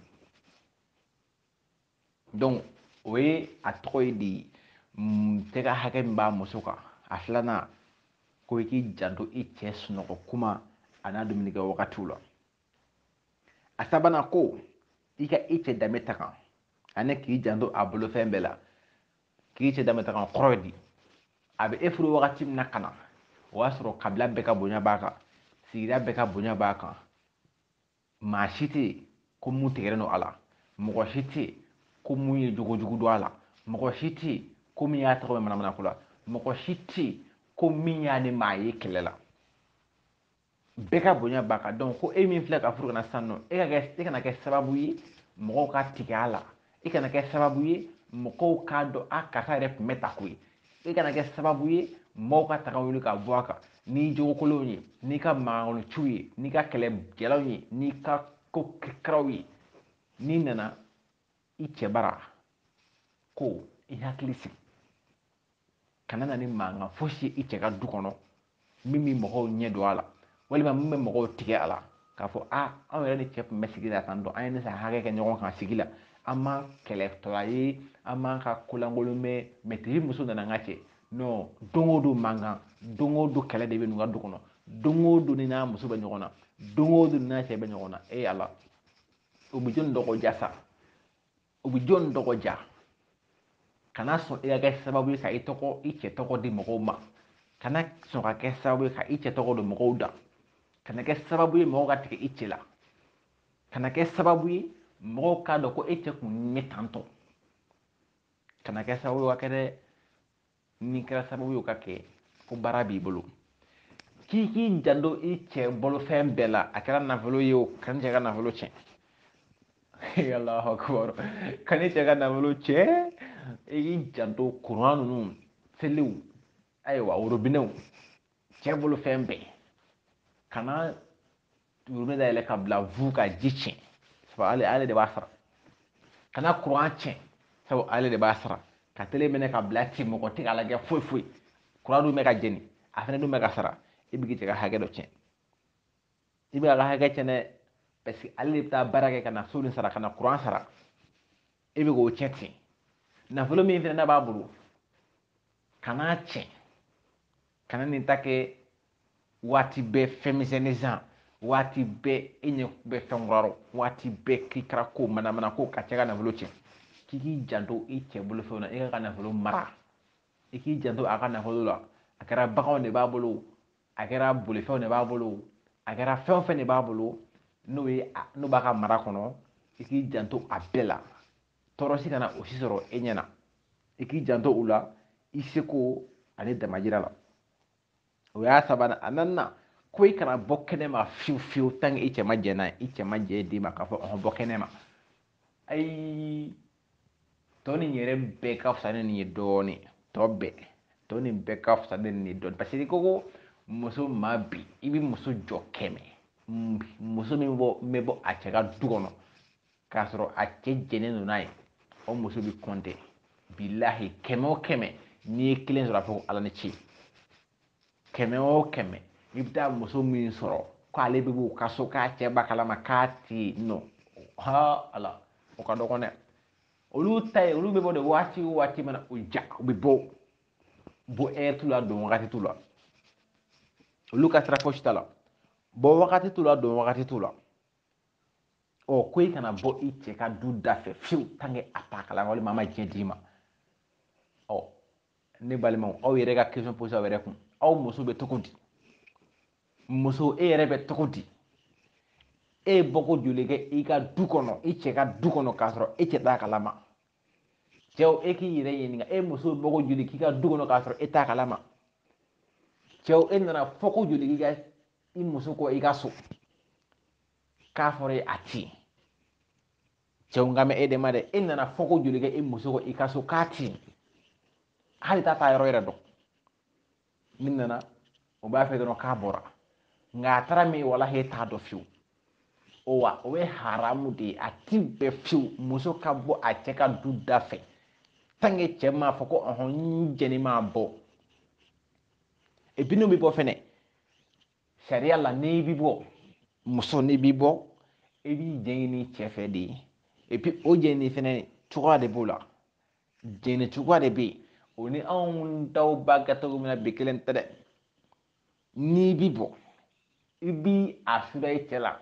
donc o ye a tɔgɔ ye di mm, cɛ ka hakɛ min b'a muso kan a filanan ko i k'i janto i cɛ sunɔgɔ kuma a n'a dumunikɛ wagatiw la a sabanan ko i ka i cɛ danbe tanga ani k'i janto a bolofɛn bɛɛ la k'i cɛ danbe tanga kɔrɔ ye di a bɛ e furu wagati min na ka na o y'a sɔrɔ kabila bɛɛ ka bonya b'a kan sigida bɛɛ ka bonya b'a kan maa si tɛ yen ko mun tigɛlen don a la mɔgɔ si tɛ yen ko mun ye jogo jugu dɔn a la mɔgɔ si tɛ yen ko min y'a tɔgɔ mɛn manamanako la mɔgɔ si tɛ yen ko min y'a ni maa ye kɛlɛ la bɛɛ ka bonya b'a kan donc e min filɛ ka furu kana sɔn e ka e kana kɛ sababu ye mɔgɔw ka tigɛ a la i kana kɛ sababu ye mɔgɔw k'a dɔn a karisa yɛrɛ tun bɛ tan koyi i kana kɛ sababu ye mɔgɔw ka tanga wuli ka bɔ a kan n'i jogokolonw ye n'i ka mankanciw ye n'i ka kɛlɛ jalanw ye n'i ka ko kiraw ye n'i nana i cɛ bara ko i hakili sigi kana na ni mankan fosi ye i cɛ ka du kɔnɔ min bɛ mɔgɔw ɲɛ don a la walima min bɛ mɔgɔw tigɛ a la k'a fɔ a anw yɛrɛ ni cɛ tun bɛ sigi la tan dɔn an ye nin san hakɛ kɛ ɲɔgɔn kan sigi la an ma kɛlɛtɔla ye an m'a ka kolankolon mɛn mɛtiri muso nana an ka cɛ non don o don mankan don o don kɛlɛ de bɛ ninnu ka du kɔnɔ don o don nin n'a muso bɛ ɲɔgɔn na don o don n'a cɛ bɛ ɲɔgɔn na e yala o bɛ jɔni dɔgɔya sa o bɛ jɔn dɔgɔya kana sɔn i ka kɛ sababu ye ka i tɔgɔ i cɛ tɔgɔ di mɔgɔw ma kana sɔn ka kɛ sababu ye ka i cɛ tɔgɔ don mɔgɔw da kana kɛ sababu ye mɔgɔw ka tigɛ i cɛ la kana kɛ sababu ye mɔgɔw k'a dɔn ko e cɛ tun bɛ tan kana kɛ sababu ye ka kɛ dɛ n'i kɛra sababu y'o ka kɛ ko baara b'i bolo k'i k'i janto i cɛ bolofɛn bɛɛ la a kɛra nafolo ye o kana cɛ ka nafolo tiɲɛ alahu akubar kan'i cɛ ka nafolo tiɲɛ i k'i janto kuran ninnu telew ayiwa worobinɛw cɛ bolofɛn bɛɛ kana worobinɛ dayɛlɛ ka bila fu ka ji tiɲɛ sabu ale ale de b'a sara kana kuran tiɲɛ sabu ale de b'a sara ka tele mɛnɛ ka bila ten mɔgɔ tɛ k'a lajɛ foyi foyi kuran dun bɛ ka jeni a fana dun bɛ ka sara i bɛ k'i cɛ ka hakɛ dɔ tiɲɛ i bɛ a ka hakɛ tiɲɛ dɛ parce que ale de bɛ taa baara kɛ ka na so nin sara ka na kuran sara e bɛ k'o tiɲɛ ten nafolo min fana n'a b'a bolo kana a tiɲɛ kana nin ta kɛ waati bɛɛ fɛn misɛnnin san waati bɛɛ e ɲɛ bɛ fɛn kɔrɔ waati bɛɛ k'i kɛra ko manamanako ka cɛ ka nafolo tiɲɛ k'i k'i janto i cɛ bolofɛnw na i k'a ka nafolo mara i k'i janto a ka nafolo la a kɛra baganw de b'a bolo a kɛra bolifɛnw de b'a bolo a kɛra fɛn o fɛn de b'a bolo n'o ye n'o b'a ka mara kɔnɔ i k'i janto a bɛɛ la tɔɔrɔ si kana o si sɔrɔ e ɲɛ na i k'i janto u la i seko ani damajira la o y'a sabanan a naaninan ko i kana bɔ kɛnɛma fiyewu fiyewu tanke i cɛ ma jɛ n'a ye i cɛ ma jɛ d'i ma k'a fɔ ɔhɔn bɔ kɛnɛma ayi tɔ nin yɛrɛ bɛɛ ka fisa ni nin ye dɔɔnin tɔ bɛɛ tɔ nin bɛɛ ka fisa ni nin ye dɔɔnin parce que ko ko muso ma bi i bɛ muso jɔ kɛmɛ muso min bɔ bɛ bɔ a cɛ ka du kɔnɔ k'a sɔrɔ a cɛ jɛnnen don n'a ye o muso bɛ kɔnte bilahi kɛmɛ o kɛmɛ n'i ye kelen sɔrɔ a fɔ ala ni ce kɛmɛ o kɛmɛ i bɛ taa muso min sɔrɔ k'ale bɛ b'u ka so k'a cɛ b'a kalama k'a ti nɔ ha ala o ka dɔgɔn dɛ olu ta ye olu bɛ bɔ de waati o waati mana u diya u bɛ bɔ bɔ ɛri t'u la don wagati t'u la olu ka sira fosi t'a la bɔ wagati t'u la don wagati t'u la ɔ ko i kana bɔ i cɛ ka du da fɛ fiyewu tanke a t'a kalama walima a ma diɲɛ d'i ma ɔ ne balimaw aw yɛrɛ ka question poser aw yɛrɛ kun aw muso bɛ cogo di muso e yɛrɛ bɛ cogo di e ye bɔko joli kɛ i ka du kɔnɔ i cɛ ka du kɔnɔ k'a sɔrɔ e cɛ t'a kalama cɛw e k'i yɛrɛ ɲininka e muso bɛ bɔko joli k'i ka du kɔnɔ k'a sɔrɔ e t'a kalama cɛw e nana fɔ ko joli k'i ka i muso kɔ i ka so k'a fɔra ye a ti cɛw n kan bɛ e de ma dɛ e nana fɔ ko joli kɛ e muso kɔ i ka so k'a ti hali t'a taayɔrɔ yɛrɛ dɔn n'i nana u b'a fɔ dɔrɔn k'a bɔra nka a taara min walahi e t'a dɔn fiyewu o wa o ye haramu de ye a ti bɛn fiyewu muso ka bɔ a cɛ ka du da fɛ tanke cɛ m'a fɔ ko ɔhɔn n jɛnn'i ma bɔ epi n'o bɛ bɔ fɛnɛ sariya la n'i bi bɔ muso n'i bi bɔ i b'i jɛɲini cɛ fɛ de epi o jɛɲini fɛnɛ cogoya de b'o la jɛɲini cogoya de bɛ yen o ni anw dɔw b'a kɛ cogo min na bɛɛ kelen tɛ dɛ n'i bi bɔ i bi a sara i cɛ la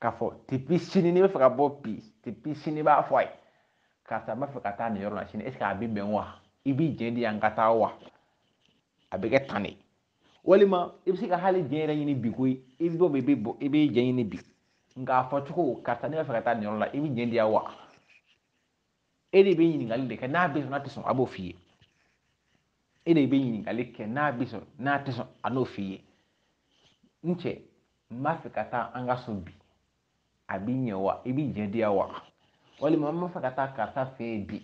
k'a fɔ tipi sini n'i b'a fɛ ka bɔ bi tipi sini i b'a fɔ a ye karisa n b'a fɛ ka taa nin yɔrɔ la sini ɛseke a bɛ bɛn wa i b'i jɛ di yan ka taa wa a bɛ kɛ tan de walima i bɛ se ka hali jɛ yɛrɛ ɲini bi ko i bɛ bɔ bi i bɛ bɔ i bɛ jɛ ɲini bi nka a fɔ cogo karisa ne b'a fɛ ka taa nin yɔrɔ la i bɛ jɛ di yan wa e de bɛ ɲininkali de kɛ n'a bɛ sɔn n'a tɛ sɔn a b'o f'i ye e de bɛ ɲininkali kɛ n'a bɛ sɔn n'a tɛ sɔn a n'o f'i ye n cɛ n b'a fɛ ka taa an ka so bi a bi ɲɛ wa i b'i jɛ di yan wa walima n b'a fɛ ka taa karisa fɛ yen bi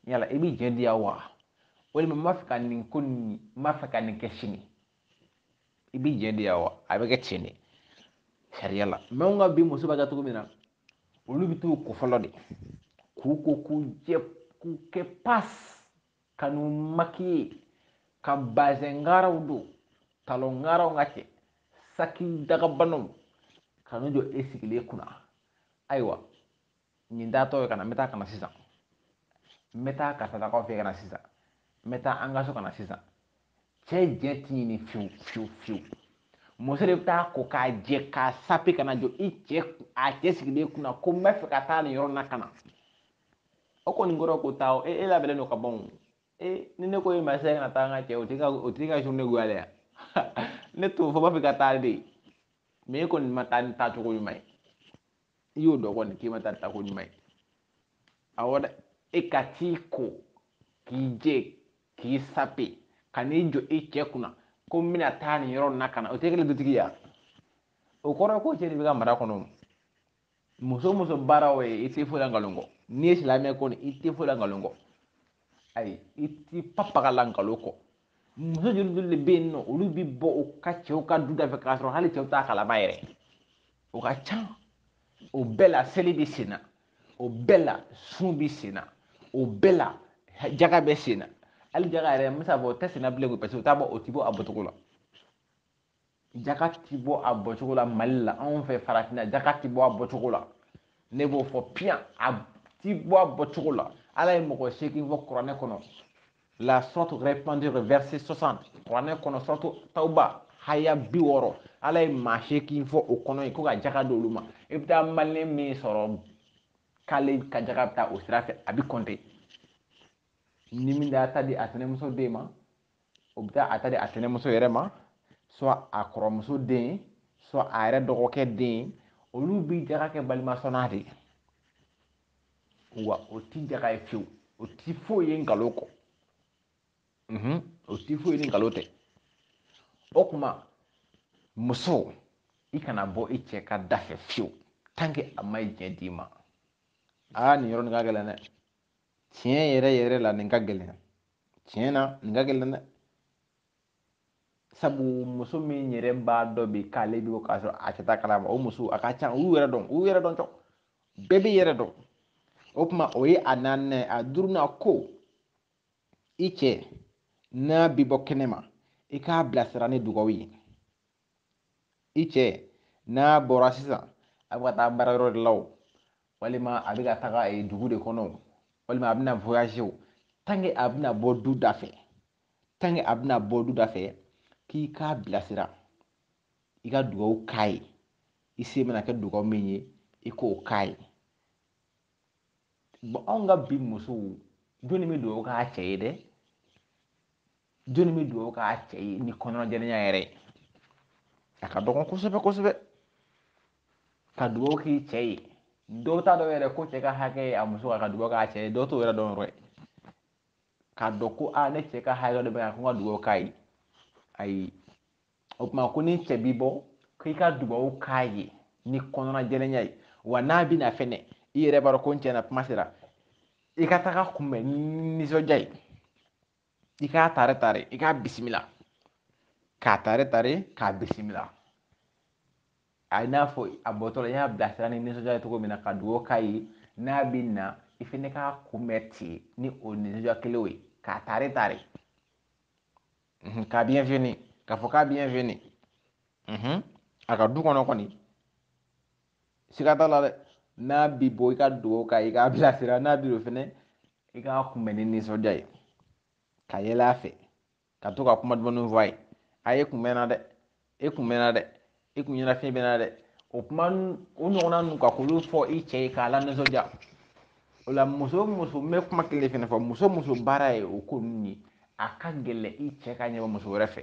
yala i b'i jɛ di yan wa walima n b'a fɛ ka nin ko nin n b'a fɛ ka nin kɛ sini i b'i jɛ de wa a bɛ kɛ ten de sariya la mɛ nka bi muso b'a kɛ cogo min na olu bɛ t'u ko fɔlɔ de k'u ko k'u jɛ k'u kɛ pas ka n'u makiye ka bazɛn ngaraw don talon ngaraw ka cɛ saki dagabanaw ka n'u jɔ e sigilen kunna ayiwa nin taatɔ ye ka na n bɛ taa ka na sisan n bɛ taa karisalakaw fɛ ka na sisan n bɛ taa an ka so ka na sisan cɛ jɛn ti ɲini fiyewu fiyewu fiyewu muso de bɛ t'a ko k'a jɛ k'a sape ka n'a jɔ i cɛ a cɛ sigilen kunna ko n b'a fɛ ka taa nin yɔrɔ na ka na o kɔni kɔrɔ ko taa o e e labɛnnen don ka ban o e ni ne ko e ma se kana taa n ka cɛ o tigi ka o tigi ka journée goyalen ya ne t'o fɔ n b'a fɔ e ka taa de mɛ e kɔni ma taa ni taacogo ɲuman ye i y'o dɔn kɔni k'i ma taa taako ɲuman ye awɔ dɛ e ka t'i ko k'i jɛ k'i sape ka n'i jɔ i cɛ kunna ko n bɛna taa nin yɔrɔ na ka na o tɛ kelen dutigiya o kɔrɔ ye ko cɛ de b'i ka mara kɔnɔ muso o muso baara o ye i tɛ foyi la nkalon kɔ n'i ye silamɛ kɔni i tɛ foyi la nkalon kɔ ayi i t'i papaga la nkalon kɔ muso joli joli de bɛ yen n'olu bɛ bɔ u ka cɛw ka du dafɛ k'a sɔrɔ hali cɛw t'a kalama yɛrɛ o ka ca o bɛɛ la seli bɛ sen na o bɛɛ la sun bɛ sen na o bɛɛ la jaga bɛ sen na hali jaga yɛrɛ n bɛ se k'a fɔ o tɛ sen na bilen koyi paseke o t'a bɔ o tɛ bɔ a bɔcogo la jaka ti bɔ a bɔcogo la mali la anw fɛ farafinna jaka ti bɔ a bɔcogo la ne b'o fɔ piyan a ti bɔ a bɔcogo la ala ye mɔgɔ seegin fɔ kuranɛ kɔnɔ la sourate repentir verset 60 kuranɛ kɔnɔ sourate tawba haya bi wɔɔrɔ ala ye maa seegin fɔ o kɔnɔ ye ko ka jaka di olu ma i bɛ taa maliyɛn min sɔrɔ k'ale ka jaka bɛ taa o sira fɛ a bɛ kɔnte ni min da ta di a tɛnɛmuso den ma o bɛ taa a ta di a tɛnɛmuso yɛrɛ ma soit a kɔrɔmuso den soit a yɛrɛ dɔgɔkɛ den olu bi jaga kɛ balimasɔnna de ye wa o ti jaga ye fiyewu o ti foyi ye nkalon kɔ o ti foyi ye ni nkalon tɛ o kuma muso i kana bɔ i cɛ ka da fɛ fiyewu tanke a ma ye diɲɛ d'i ma aa nin yɔrɔnin ka gɛlɛn dɛ tiɲɛ yɛrɛ yɛrɛ la nin ka gɛlɛn tiɲɛ na nin ka gɛlɛn dɛ sabu muso min yɛrɛ b'a dɔn bi k'ale bi bɔ k'a sɔrɔ a cɛ t'a kalama o muso a ka ca u yɛrɛ dɔn u yɛrɛ dɔn tɔ bɛɛ b'i yɛrɛ dɔn o tuma o ye a naaninan ye a duurunan ko i cɛ n'a bi bɔ kɛnɛ ma i k'a bilasira ni dugawu ye i cɛ n'a bɔra sisan a bɛ ka taa baara yɔrɔ de la o walima a bɛ ka taga eh, dugu de kɔnɔ o walima a bɛna voyager o tant que a bɛna bɔ du da fɛ tant que a bɛna bɔ du da fɛ k'i k'a bilasira i ka dugawu k'a ye i se mana kɛ dugawu min ye i k'o k'a ye bon anw ka bi musow jɔnni bɛ dugawu k'a cɛ ye dɛ jɔnni bɛ dugawu k'a cɛ ye ni kɔnɔjɛlenya yɛrɛ ye a ka dɔgɔn kosɛbɛ kosɛbɛ ka dugawu k'i cɛ ye dɔw t'a dɔn yɛrɛ ko cɛ ka hakɛ ye a muso ka dugawu k'a cɛ ye dɔw t'o yɛrɛ dɔn yɛrɛ k'a dɔn ko a ne cɛ ka hakɛ dɔ bɛ yan ko n ka dugawu k'a ye ayi o tuma ko n'i cɛ bi bɔ k'i ka dugawu k'a ye ni kɔnɔnajɛlenya ye wa n'a bɛ na fɛnɛ i yɛrɛ b'a dɔn ko n cɛ na kuma sera i ka tag'a kunbɛn ni nisɔndiya ye i k'a tare tare i k'a bisimila k'a tare tare k'a bisimila i n'a fɔ a bɔtɔla i y'a bilasira ni nisɔndiya ye cogo min na ka dugawu k'a ye n'a bɛ na i fana k'a kunbɛn ten ni o nisɔndiya kelen ye k'a tare tare k'a bienvenue k'a fɔ k'a bienvenue a ka du kɔnɔ kɔni siga t'a la dɛ n'a bi bɔ i ka dugawu k'a ye k'a bilasira n'a bi don fɛnɛ i k'a kunbɛn ni nisɔndiya ye ka yɛlɛ a fɛ ka to ka kuma dumanw fɔ a ye a e kun mɛnna dɛ e kun mɛnna dɛ e kun ɲɛnafin bɛ n na dɛ o kuma o ɲɔgɔnna ninnu ka k'olu fɔ i cɛ ye k'a lanisɔndiya o la muso muso n bɛ kuma kelen fɛnɛ fɔ muso muso baara ye o ko ninnu ye a ka gɛlɛn i cɛ ka ɲɛbɔ muso wɛrɛ fɛ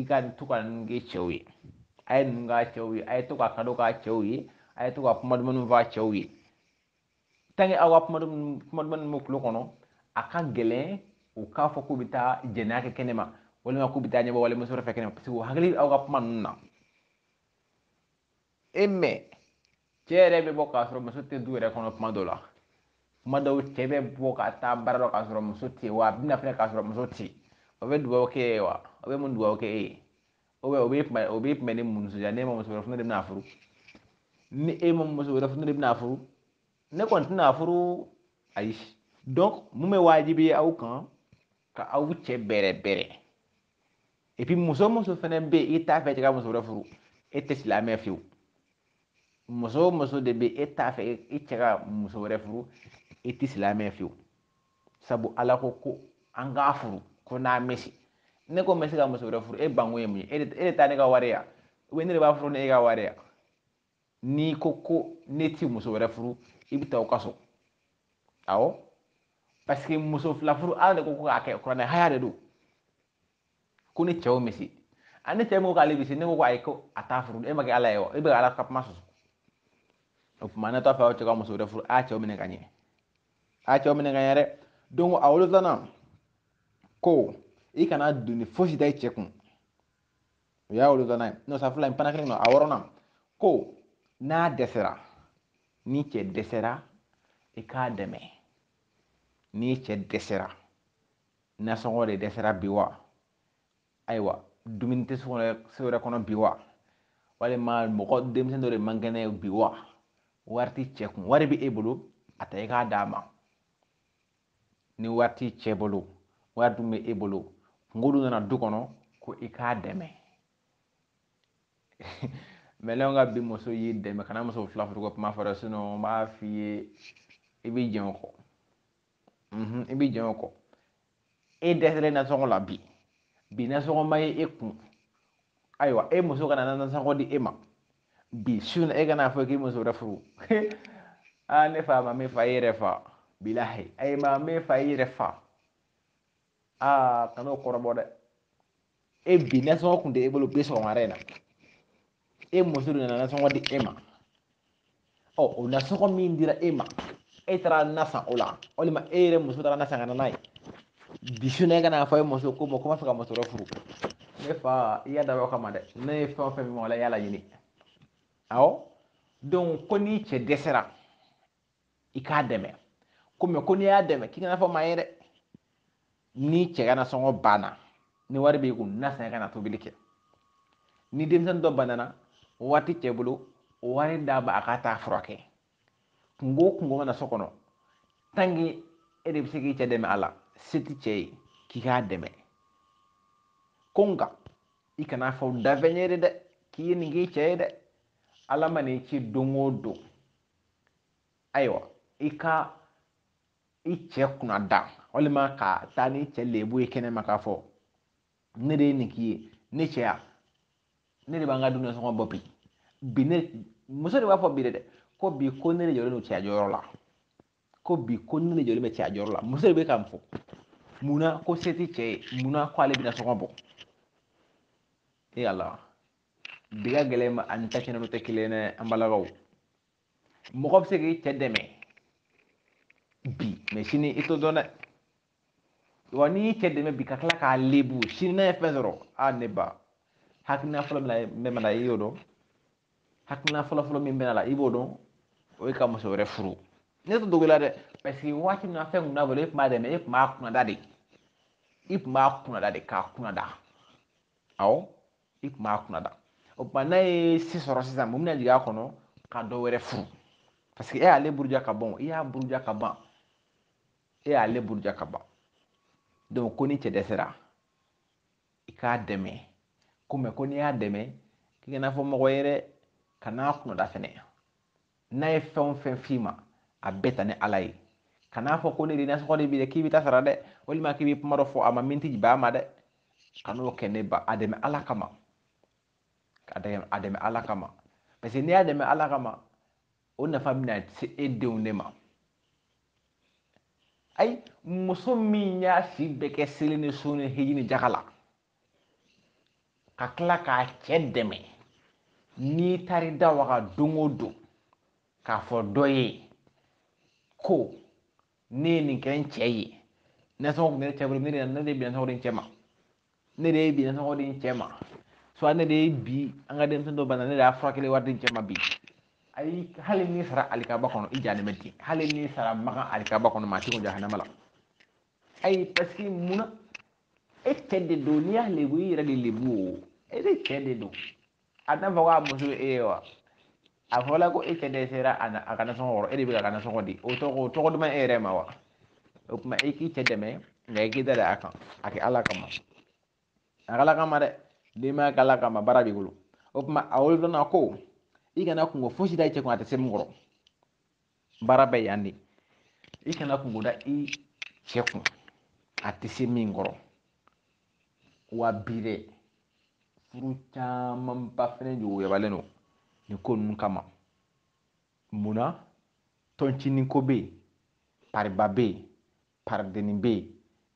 i ka to ka ninnu kɛ cɛw ye a ye ninnu k'a cɛw ye a ye to ka kado k'a cɛw ye a ye to ka kuma dumanw fɔ a cɛw ye tant que aw ka kuma dumanw b'u kulo kɔnɔ a ka gɛlɛn u k'a fɔ k'u bɛ taa jɛnɛya kɛ kɛnɛ ma walima k'u bɛ taa ɲɛbɔ walimuso fɛ kɛnɛ ma parce que u hakili aw ka kuma ninnu na e mais cɛ yɛrɛ bɛ bɔ k'a sɔrɔ muso tɛ du yɛrɛ kɔnɔ kuma dɔ la kuma dɔw cɛ bɛ bɔ ka taa baara dɔ k'a sɔrɔ muso tɛ wa a bɛ na fɛnɛ k'a sɔrɔ muso tɛ o bɛ dugawu k'e ye wa o bɛ mun dugawu kɛ e ye o bɛ o bɛ kuma o bɛ kuma ni mun nisɔndiya ne ma muso wɛrɛ fana de bɛna furu ni e ma muso wɛrɛ fana de bɛna furu ne kɔni tɛna furu ayi donc mun bɛ waajibi aw kan ka aw cɛ bɛrɛ bɛrɛ et puis muso muso fɛnɛ bɛ yen i t'a fɛ i cɛ ka muso wɛrɛ furu e tɛ silamɛ fiyewu muso o muso de bɛ e t'a fɛ i cɛ ka muso wɛrɛ furu i tɛ silamɛ fiyewu sabu ala ko ko an k'a furu ko n'an bɛ se ne ko n bɛ se ka muso wɛrɛ furu e banko ye mun ye e de taa ne ka wari ya ne de b'a furu ni e ka wari ya n'i ko ko ne ti muso wɛrɛ furu i bɛ taa aw ka so awɔ parce que muso fila furu ala de ko ko k'a kɛ kuranɛ aya de don ko ni cɛw misi a ni cɛ min ko k'ale bi se n'e ko ko ayi ko a t'a furu e ma kɛ ala ye wa e bɛ ka ala ka kuma sɔsɔ o tuma n'e t'a fɛ aw cɛ ka muso wɛrɛ furu a cɛw minɛ ka ɲɛ a cɛw minɛ ka ɲɛ dɛ donc a wolonfilanan ko i kana doni fosi da i cɛ kun o y'a wolonfilanan ye n'o sa fila in fana kelen don a wɔrɔnan ko n'a dɛsɛra ni cɛ dɛsɛra i k'a dɛmɛ ni cɛ dɛsɛra nasɔngɔ de dɛsɛra bi wa ayiwa dumuni tɛ so yɛrɛ kɔnɔ bi wa walima mɔgɔ denmisɛnnin dɔ de man kɛnɛ bi wa wari ti cɛ kun wari bɛ e bolo a ta i k'a d'a ma ni wari ti cɛ bolo wari dun bɛ e bolo kunko dun nana du kɔnɔ ko i k'a dɛmɛ mɛ nka bi muso y'i dɛmɛ kana muso fila furu ko kuma fɔ dɛ n b'a f'i ye i b'i jɛn o kɔ i b'i jɛn o kɔ e dɛsɛlen nasɔngɔ la bi bi nasɔngɔ ma ye e kun ayiwa e muso ka na nasɔngɔ di e ma bi su in na e ka n'a fɔ k'i bɛ muso wɛrɛ furu aa ne fa maa m'i fa i y'i yɛrɛ fa bilahi a ye maa m'i fa i y'i yɛrɛ fa aa kan'o kɔrɔbɔ dɛ e bi nasɔngɔ tun tɛ e bolo bi sɔgɔmada in na e muso de nana nasɔngɔ di e ma ɔ o nasɔngɔ min dira e ma e taara na san o la walima e yɛrɛ muso taara na san ka na n'a ye bi su in e ka n'a fɔ e muso ko ma ko n b'a fɛ ka muso wɛrɛ furu ne fa i y'a dabɔ o kama dɛ ne ye fɛn o fɛn min wala i y'a laɲini awɔ donc ko n'i cɛ dɛsɛra i k'a dɛmɛ ko mɛ ko n'i y'a dɛmɛ k'i kan'a fɔ maa ye dɛ ni cɛ ka nasɔngɔ banna ni wari b'i kun na san ka na tobili kɛ ni denmisɛnnin dɔ banana wari ti cɛ bolo wari d'a ma a ka taa a furakɛ kunko o kunko mana na so kɔnɔ tant que e de bɛ se k'i cɛ dɛmɛ a la se tɛ cɛ ye k'i k'a dɛmɛ ko nka i kan'a fɔ danfɛn ye de dɛ k'i ye nin k'i cɛ ye dɛ ala ma n'i ci don o don ayiwa i ka i cɛ kunnada walima ka taa n'i cɛ lebu ye kɛnɛma k'a fɔ ne de ye nin k'i ye ne cɛya ne de b'an ka dumuni sɔngɔ bɔ bi bi in muso de b'a fɔ bi dɛ ko bi ko ne de jɔlen don cɛya jɔyɔrɔ la ko bi ko ne de jɔlen bɛ cɛya jɔyɔrɔ la muso de bɛ ka nin fɔ munna ko se tɛ cɛ ye munna ko ale bɛ nasɔngɔ bɔ ee ala bi ka gɛlɛn ma ani ta kɛnɛ tɛ kelen ye dɛ an balakaw mɔgɔ bɛ se k'i cɛ dɛmɛ bi mɛ sini i t'o dɔn dɛ wa n'i y'i cɛ dɛmɛ bi ka tila k'a lebu sini n'a ye fɛn sɔrɔ a ne ba hakilina fɔlɔ min bɛ na i y'o dɔn hakilina fɔlɔ fɔlɔ min bɛ n'a la i b'o dɔn o ye ka muso wɛrɛ furu ne t'a dogo a la dɛ paseke waati min na fɛn kun t'a bolo e tun b'a dɛmɛ e tun b'a kunnada de i tun b'a kunnada de k'a kunnada awɔ i kun b'a kunnada o tuma n'a ye se sɔrɔ sisan mun bɛna jigin a kɔnɔ ka dɔ wɛrɛ furu paseke e y'ale buruja ka ban i y'a buruja ka ban e y'ale buruja ka ban donc ko ni cɛ dɛsɛra i k'a dɛmɛ ko mɛ ko n'i y'a dɛmɛ k'i kan'a fɔ mɔgɔ ye dɛ kan'a kunnada fɛnɛ n'a ye fɛn o fɛn f'i ma a bɛɛ ta ni ala ye kan'a fɔ ko ne de nasɔngɔ di bi dɛ k'i bɛ taa sara dɛ walima k'i bɛ kuma dɔ fɔ a ma min tɛ bɛn a ma dɛ kan'o kɛ ne ba a dɛmɛ ala kama a dɛmɛ ala kama parce que n'i y'a dɛmɛ ala kama o nafa bɛna se e denw de ma ayi muso min y'a si bɛɛ kɛ seli ni sun ni hiji ni jaka la ka tila k'a cɛ dɛmɛ n'i taar'i da waga don o don k'a fɔ dɔ ye ko ne ye nin kɛ n cɛ ye nasɔngɔ tun tɛ ne cɛ bolo ne de ne de bɛ nasɔngɔ di n cɛ ma ne de ye bi nasɔngɔ di n cɛ ma soit ne de ye bi an ka denmisɛn dɔ bana ne de y'a furakɛli wari di n cɛ ma bi ayi hali n'i sara alikaba kɔnɔ i jalen bɛ ten hali n'i sara makan alikaba kɔnɔ maa si ko jahanama la ayi paseke mun na e cɛ de don n'i y'a lebu i y'i yɛrɛ de lebu o e de cɛ de don a t'a fɔ k'a muso ye e ye wa a fɔla ko e cɛ dɛsɛra a na a ka nasɔngɔ kɔrɔ e de bɛ ka nasɔngɔ di o tɔgɔ o tɔgɔ duman e yɛrɛ ma wa o tuma e k'i cɛ dɛmɛ nka i k'i da da a kan a kɛ ala kama a kɛ ala kama dɛ denbaya kɛ ala kama baara b'i bolo o tuma a wolodonna ko i kana kungo fosi da i cɛ kun a tɛ se min kɔrɔ baara bɛ yan de i kana kungo da i cɛ kun a tɛ se min kɔrɔ wa bi dɛ furu camanba fɛnɛ juguyabalen don nin ko ninnu kama munna tɔncinin ko bɛ yen pariba bɛ yen paridennin bɛ yen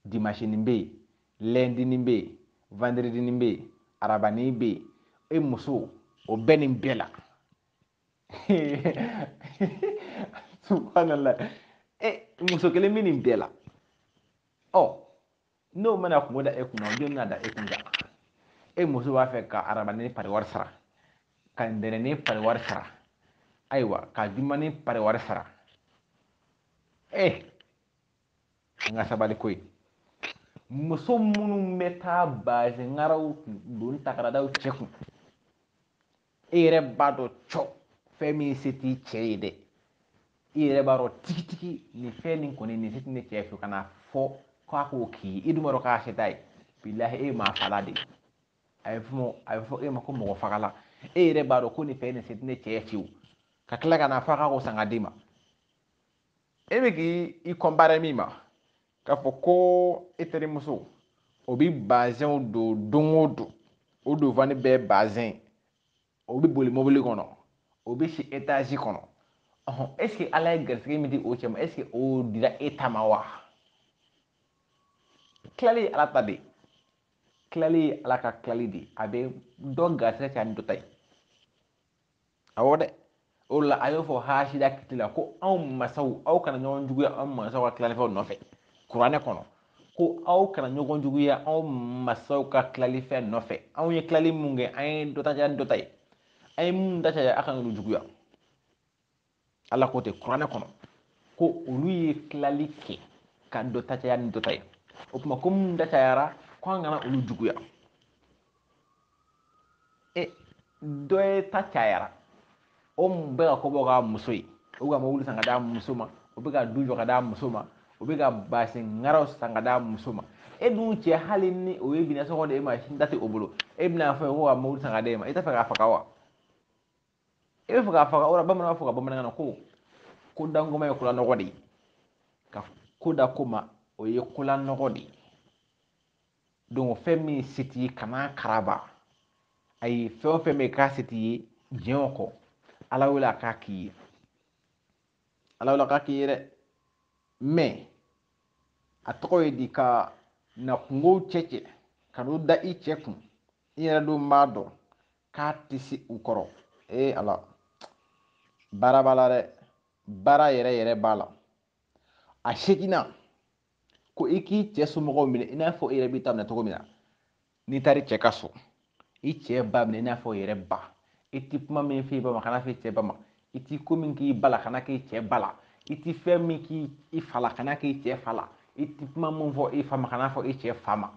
dimansinin bɛ yen lɛndinin bɛ yen vandiridinin bɛ yen arabanin bɛ yen e muso o bɛɛ nin bɛɛ la subhanallah e muso kelen bɛ nin bɛɛ la ɔ n'o ma na kungo da e kunna o jɔni n'a da e kun kan e muso b'a fɛ ka arabanin pariwari sara ka ntɛnɛnnin pariwari sara ayiwa ka jumanin pariwari sara e an ka sabali koyi muso minnu bɛ taa bazɛnkaraw don taa k'a da u cɛ kun e yɛrɛ b'a dɔn cɔ fɛn min se t'i cɛ ye dɛ i yɛrɛ b'a dɔn tigitigi nin fɛn nin kɔni nin se tɛ ne cɛ fɛ ka n'a fɔ k'a k'o k'i ye i dun b'a dɔn k'a se t'a ye bilahi e ye maa fala de ye a bɛ fɔ a bɛ fɔ e ma ko mɔgɔ fagala e yɛrɛ b'a dɔn ko nin fɛn nin se tɛ ne cɛ ye fiyewu ka tila ka n'a fɔ k'a k'o san k'a d'i ma e bɛ k'i i kɔnpare min ma k'a fɔ ko e terimuso o bɛ bazɛnw don don o don o donfani bɛɛ bazɛn o bɛ boli mobili kɔnɔ o bɛ si etazi kɔnɔ ɔhɔn ɛseke ala ye garisɛgɛ min di o cɛ ma ɛseke o dira e ta ma wa tilali ye ala ta de tilali ye ala ka tilali de a bɛ dɔ garisɛgɛ caya ni dɔ ta ye awɔ dɛ o la a y'o fɔ hasida kiti la ko anw masaw aw kana ɲɔgɔn juguya anw masaw ka tilalifɛnw nɔfɛ kuranɛ kɔnɔ ko aw kana ɲɔgɔn juguya anw masaw ka tilalifɛn nɔfɛ anw ye tilali min kɛ an ye dɔ ta kɛ dɔ ta ye an ye min ta caya a kana olu juguya ala ko ten kuranɛ kɔnɔ ko olu ye tilali kɛ ka dɔ ta caya ni dɔ ta ye o tuma ko minnu ta cayara ko an kana olu juguya e dɔ ye ta cayara o bɛ ka ko bɛɛ k'a muso ye o ka mobili san k'a d'a muso ma o bɛ ka du jɔ k'a d'a muso ma o bɛ ka bazɛn ŋaraw san k'a d'a muso ma e dun cɛ hali ni o ye bi nasɔngɔ di e ma da tɛ o bolo e bɛna fɔ k'o ka mobili san k'a d'e ma i t'a fɛ k'a faga wa i b'a fɛ k'a faga wala bamananw b'a fɔ ka bamanankan na ko ko dankoma ye kola nɔgɔ de ye ka ko da ko ma o ye kola nɔgɔ de ye don fɛn min se t'i ye kan'a karaba ayi fɛn o fɛn bɛ k'a se t'i ye diɲɛ kɔnɔ ala wele a k'a k'i ye ala wele a k'a k'i ye dɛ mɛ a tɔgɔ ye di ka na kunkow cɛ cɛ ka n'u da i cɛ kun i yɛrɛ dun b'a dɔn k'a tɛ se u kɔrɔ ee ala baara b'a la dɛ baara yɛrɛ yɛrɛ b'a la a seginna ko i k'i cɛ somɔgɔw minɛ i n'a fɔ i yɛrɛ b'i ta minɛ cogo min na n'i taara i cɛ ka so i cɛ ba minɛ i n'a fɔ i yɛrɛ ba i ti kuma min f'i ba ma kan'a f'i cɛ ba ma i ti ko min k'i ba la kan'a k'i cɛ ba la i ti fɛn min k'i i fa la kan'a k'i cɛ fa la i ti kuma min fɔ i fa ma kan'a fɔ i cɛ fa ma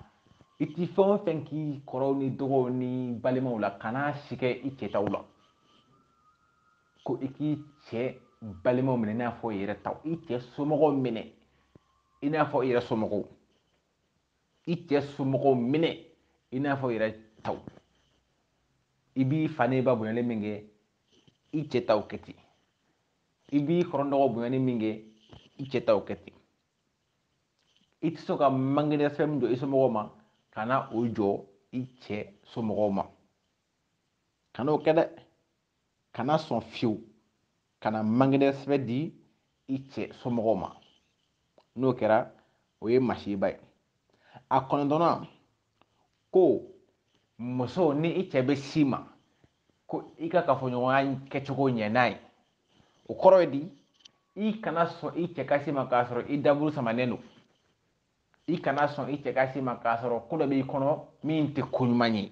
i ti fɛn o fɛn k'i kɔrɔw ni dɔgɔw ni balimaw la kana si kɛ i cɛ taw la ko i k'i cɛ balimaw minɛ i n'a fɔ i yɛrɛ taw i cɛ somɔgɔw minɛ i n'a fɔ i yɛrɛ somɔgɔw i cɛ somɔgɔw minɛ i n'a fɔ i yɛrɛ taw i b'i fa n'i ba bonyali min kɛ i cɛ taw kɛ ten i b'i kɔrɔ n'i dɔgɔ bonyani min kɛ i cɛ taw kɛ ten i tɛ sɔn ka manque de respect min jɔ i somɔgɔw ma kana o jɔ i cɛ somɔgɔw ma kana o kɛ dɛ kana sɔn fiyewu kana manque de respect di i cɛ somɔgɔw ma n'o kɛra o ye masiba ye a kɔnɔntɔnna ko muso ni i cɛ bɛ s'i ma ko i ka kafoɲɔgɔnya kɛcogo ɲɛ n'a ye o kɔrɔ ye di i kana sɔn i cɛ ka s'i ma k'a sɔrɔ i daburu samanen don i kana sɔn i cɛ ka s'i ma k'a sɔrɔ ko dɔ b'i kɔnɔ min tɛ ko ɲuman ye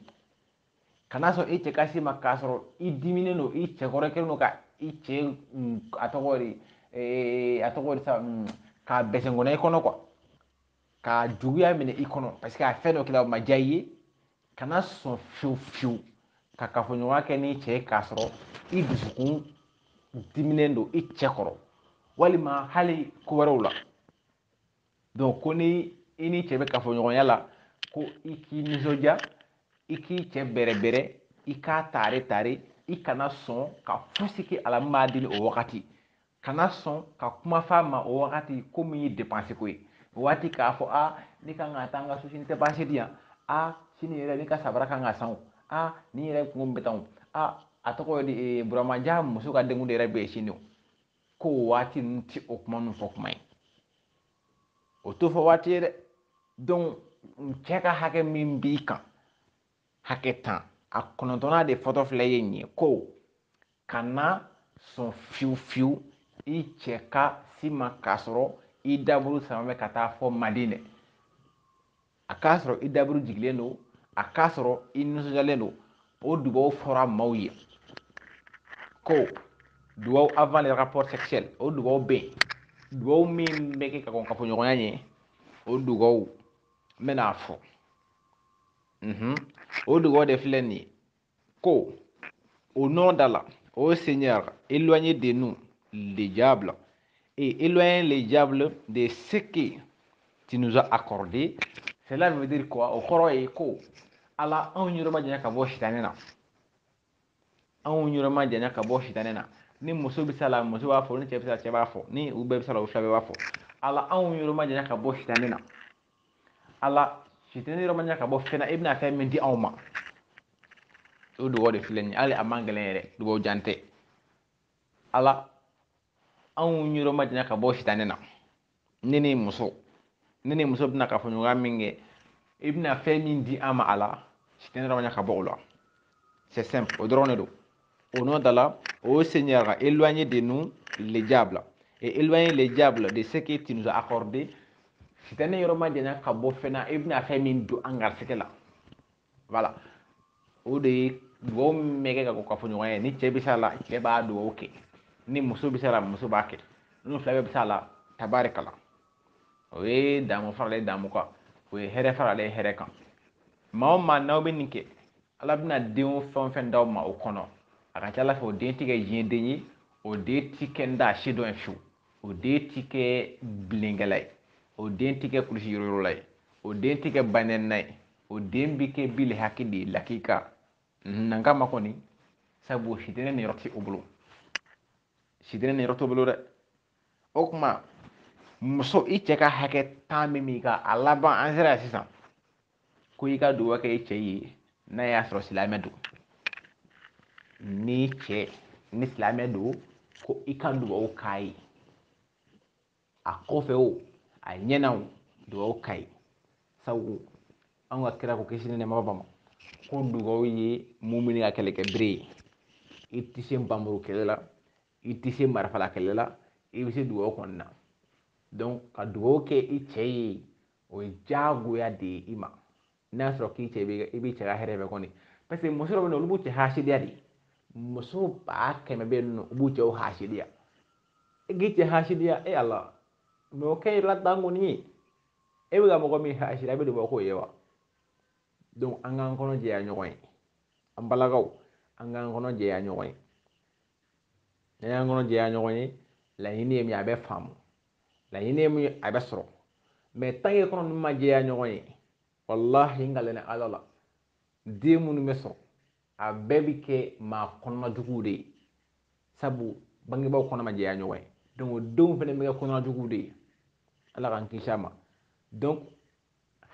kana sɔn i cɛ ka s'i ma k'a sɔrɔ i diminen don i cɛ kɔrɔ kelen don ka i cɛ mm, a tɔgɔ de a tɔgɔ de sa mm, k'a bɛsɛnkɔnɔ i kɔnɔ quoi ka juguya minɛ i kɔnɔ parce que a fɛn dɔ kɛra o ma diya i ye kana sɔn fiyewu fiyewu ka kafoɲɔgɔnya kɛ n'i cɛ ye k'a sɔrɔ i dusukun diminen don i cɛ kɔrɔ walima hali ko wɛrɛw la donc ko ni i n'i cɛ bɛ kafoɲɔgɔnya la ko i k'i nisɔndiya i k'i cɛ bɛrɛbɛrɛ i k'a tare tare i kana sɔn ka fosi kɛ a la min b'a dimi o wagati Kana sɔn ka kuma f'a ma o wagati ko min ye depansi ko ye o waati k'a fɔ a ne kan ka taa n ka sosi ni depansi di yan a sini yɛrɛ ne ka sabara kan ka san a ne yɛrɛ kungo bɛ tan a a tɔgɔ ye di e, buramajan muso ka denkundi yɛrɛ bɛ yen sini ko o waati ninnu tɛ o kuma ninnu fɔ kuma ye o t'o fɔ waati ye dɛ donc cɛ ka hakɛ min b'i kan hakɛ tan a kɔnɔntɔnna de fɔtɔ filɛ ye nin ye ko kana sɔn fiyewu fiyewu i cɛ ka s'i ma k'a sɔrɔ i daburu samanen ka taa fo madinɛ a k'a sɔrɔ i daburu jigilen don a k'a sɔrɔ i nisɔndiyalen don o dugawu fɔra maaw ye ko dugawu avant le rapport sexuel o dugawu bɛ yen dugawu min bɛ kɛ ka kɔn kafoɲɔgɔnya ɲɛ o dugawu n bɛna a fɔ o dugawu de filɛ nin ye Ko, au nom d'Allah, ô Seigneur, éloigne de nous les diables et éloigne les diables de ce que tu nous as accordé. Cela veut dire quoi O kɔrɔ ye ko Ala anw yɔrɔ ma janya ka bɔ sitanɛ na. Anw yɔrɔ ma janya ka bɔ sitanɛ na. Ni muso bɛ s'a la, muso b'a fɔ, ni cɛ bɛ s'a la, cɛ b'a fɔ, ni u bɛɛ bɛ s'a la, u fila bɛɛ b'a fɔ. Ala anw yɔrɔ ma janya ka bɔ sitanɛ na. ala sitanɛ yɔrɔ ma janya ka bɔ fɛn na i bɛna fɛn min di anw ma o dugawu de filɛ nin ye hali a man gɛlɛn yɛrɛ dugawu jan tɛ ala anw yɔrɔ ma janya ka bɔ sitanɛ na ne ni muso ne ni muso bɛna kafoɲɔgɔnya min kɛ i bɛna fɛn min di an ma ala sitanɛ yɔrɔ ma janya ka bɔ o la c'est simple o dɔrɔn de don Au nom d'Allah, ô Seigneur, éloignez de nous les diables et éloignez les diables de ce que tu nous as accordé. Sitanɛ yɔrɔ majanya ka bɔ fɛn na i bɛna fɛn min don an garisigɛ la voilà o de ye dugawu min bɛ kɛ ka kɔn kafoɲɔgɔnya ɲɛ ni cɛ bɛ s'a la cɛ b'a dugawu kɛ ni muso bɛ s'a la muso b'a kɛ n'u fila bɛɛ bɛ s'a la tabarikala o ye damu faralen damu kan o ye hɛrɛ faralen hɛrɛ kan maa o maa n'aw bɛ nin kɛ ala bɛna den o fɛn o fɛn d'aw ma o kɔnɔ a ka ca ala fɛ o den tɛ kɛ diɲɛden ye o den tɛ kɛ n da se dɔ ye fiyewu o den tɛ kɛ bilenkɛla ye o den tɛ kɛ kulusi yɔrɔyɔrɔla ye o den tɛ kɛ banɛnina ye o den bɛ kɛ bile hakɛ de ye lakika nankama kɔni sabu sitanɛ niyɔrɔ tɛ o bolo sitanɛ niyɔrɔ t'o bolo dɛ o tuma muso i cɛ ka hakɛ tan bɛ min ka a laban an sera yan sisan ko i ka dugawu kɛ i cɛ ye n'a y'a sɔrɔ silamɛ don ni cɛ ni silamɛ don ko i ka dugawu k'a ye a kɔfɛ o a ɲɛna o dugawu k'a ye sabu an ka kira ko kisi ni nɛɛma b'a ma ko dugawu ye mumuni ka kɛlɛkɛ bere ye i tɛ se npanmuru kɛlɛ la i tɛ se marifala kɛlɛ la i bɛ se dugawu kɔni na ka dugawu kɛ i cɛ ye o ye diyagoya de ye i ma n'a y'a sɔrɔ k'i cɛ i bɛ cɛ ka hɛrɛ fɛ kɔni parce que muso dɔw bɛ yen olu b'u cɛ hasidiya de muso ba kɛmɛ bɛ yen nɔ u b'u cɛw hasidiya e k'i cɛ hasidiya e ala ma o kɛ i la dan kɔni ye e bɛ ka mɔgɔ min hasidiya e bɛ duba k'o ye wa donc an k'an kɔnɔ jɛya ɲɔgɔn ye an balakaw an k'an kɔnɔ jɛya ɲɔgɔn ye n'an y'an kɔnɔ jɛya ɲɔgɔn ye laɲini ye min a bɛ faamu laɲini ye min a bɛ sɔrɔ mais tant que kɔnɔ ninnu ma jɛya ɲɔgɔn ye walahi n kalen ala la den minnu bɛ sɔrɔ a bɛɛ bɛ kɛ maa kɔnɔna juguw de ye sabu bangebaaw kɔnɔ ma jɛya ɲɔgɔn ye donc o denw fana bɛ kɛ kɔnɔna juguw de ye ala k'an kisi a ma donc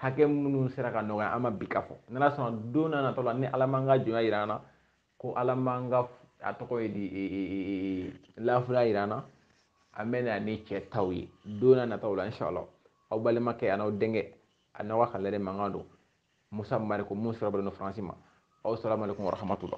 hakɛ minnu sera ka nɔgɔya an ma bi ka fɔ n'ala sɔnna don nata la ni ala man ka jɔnya jira an na ko ala man ka a tɔgɔ ye di e, e, e, lafula yira an na an bɛna ni cɛ taw ye don nataw la inshallah aw balimakɛ a n'aw denkɛ a n'aw ka kalanden mankan don musa mariko mun sira bɛlɛn don faransi ma aw salamu alaikum warahmatula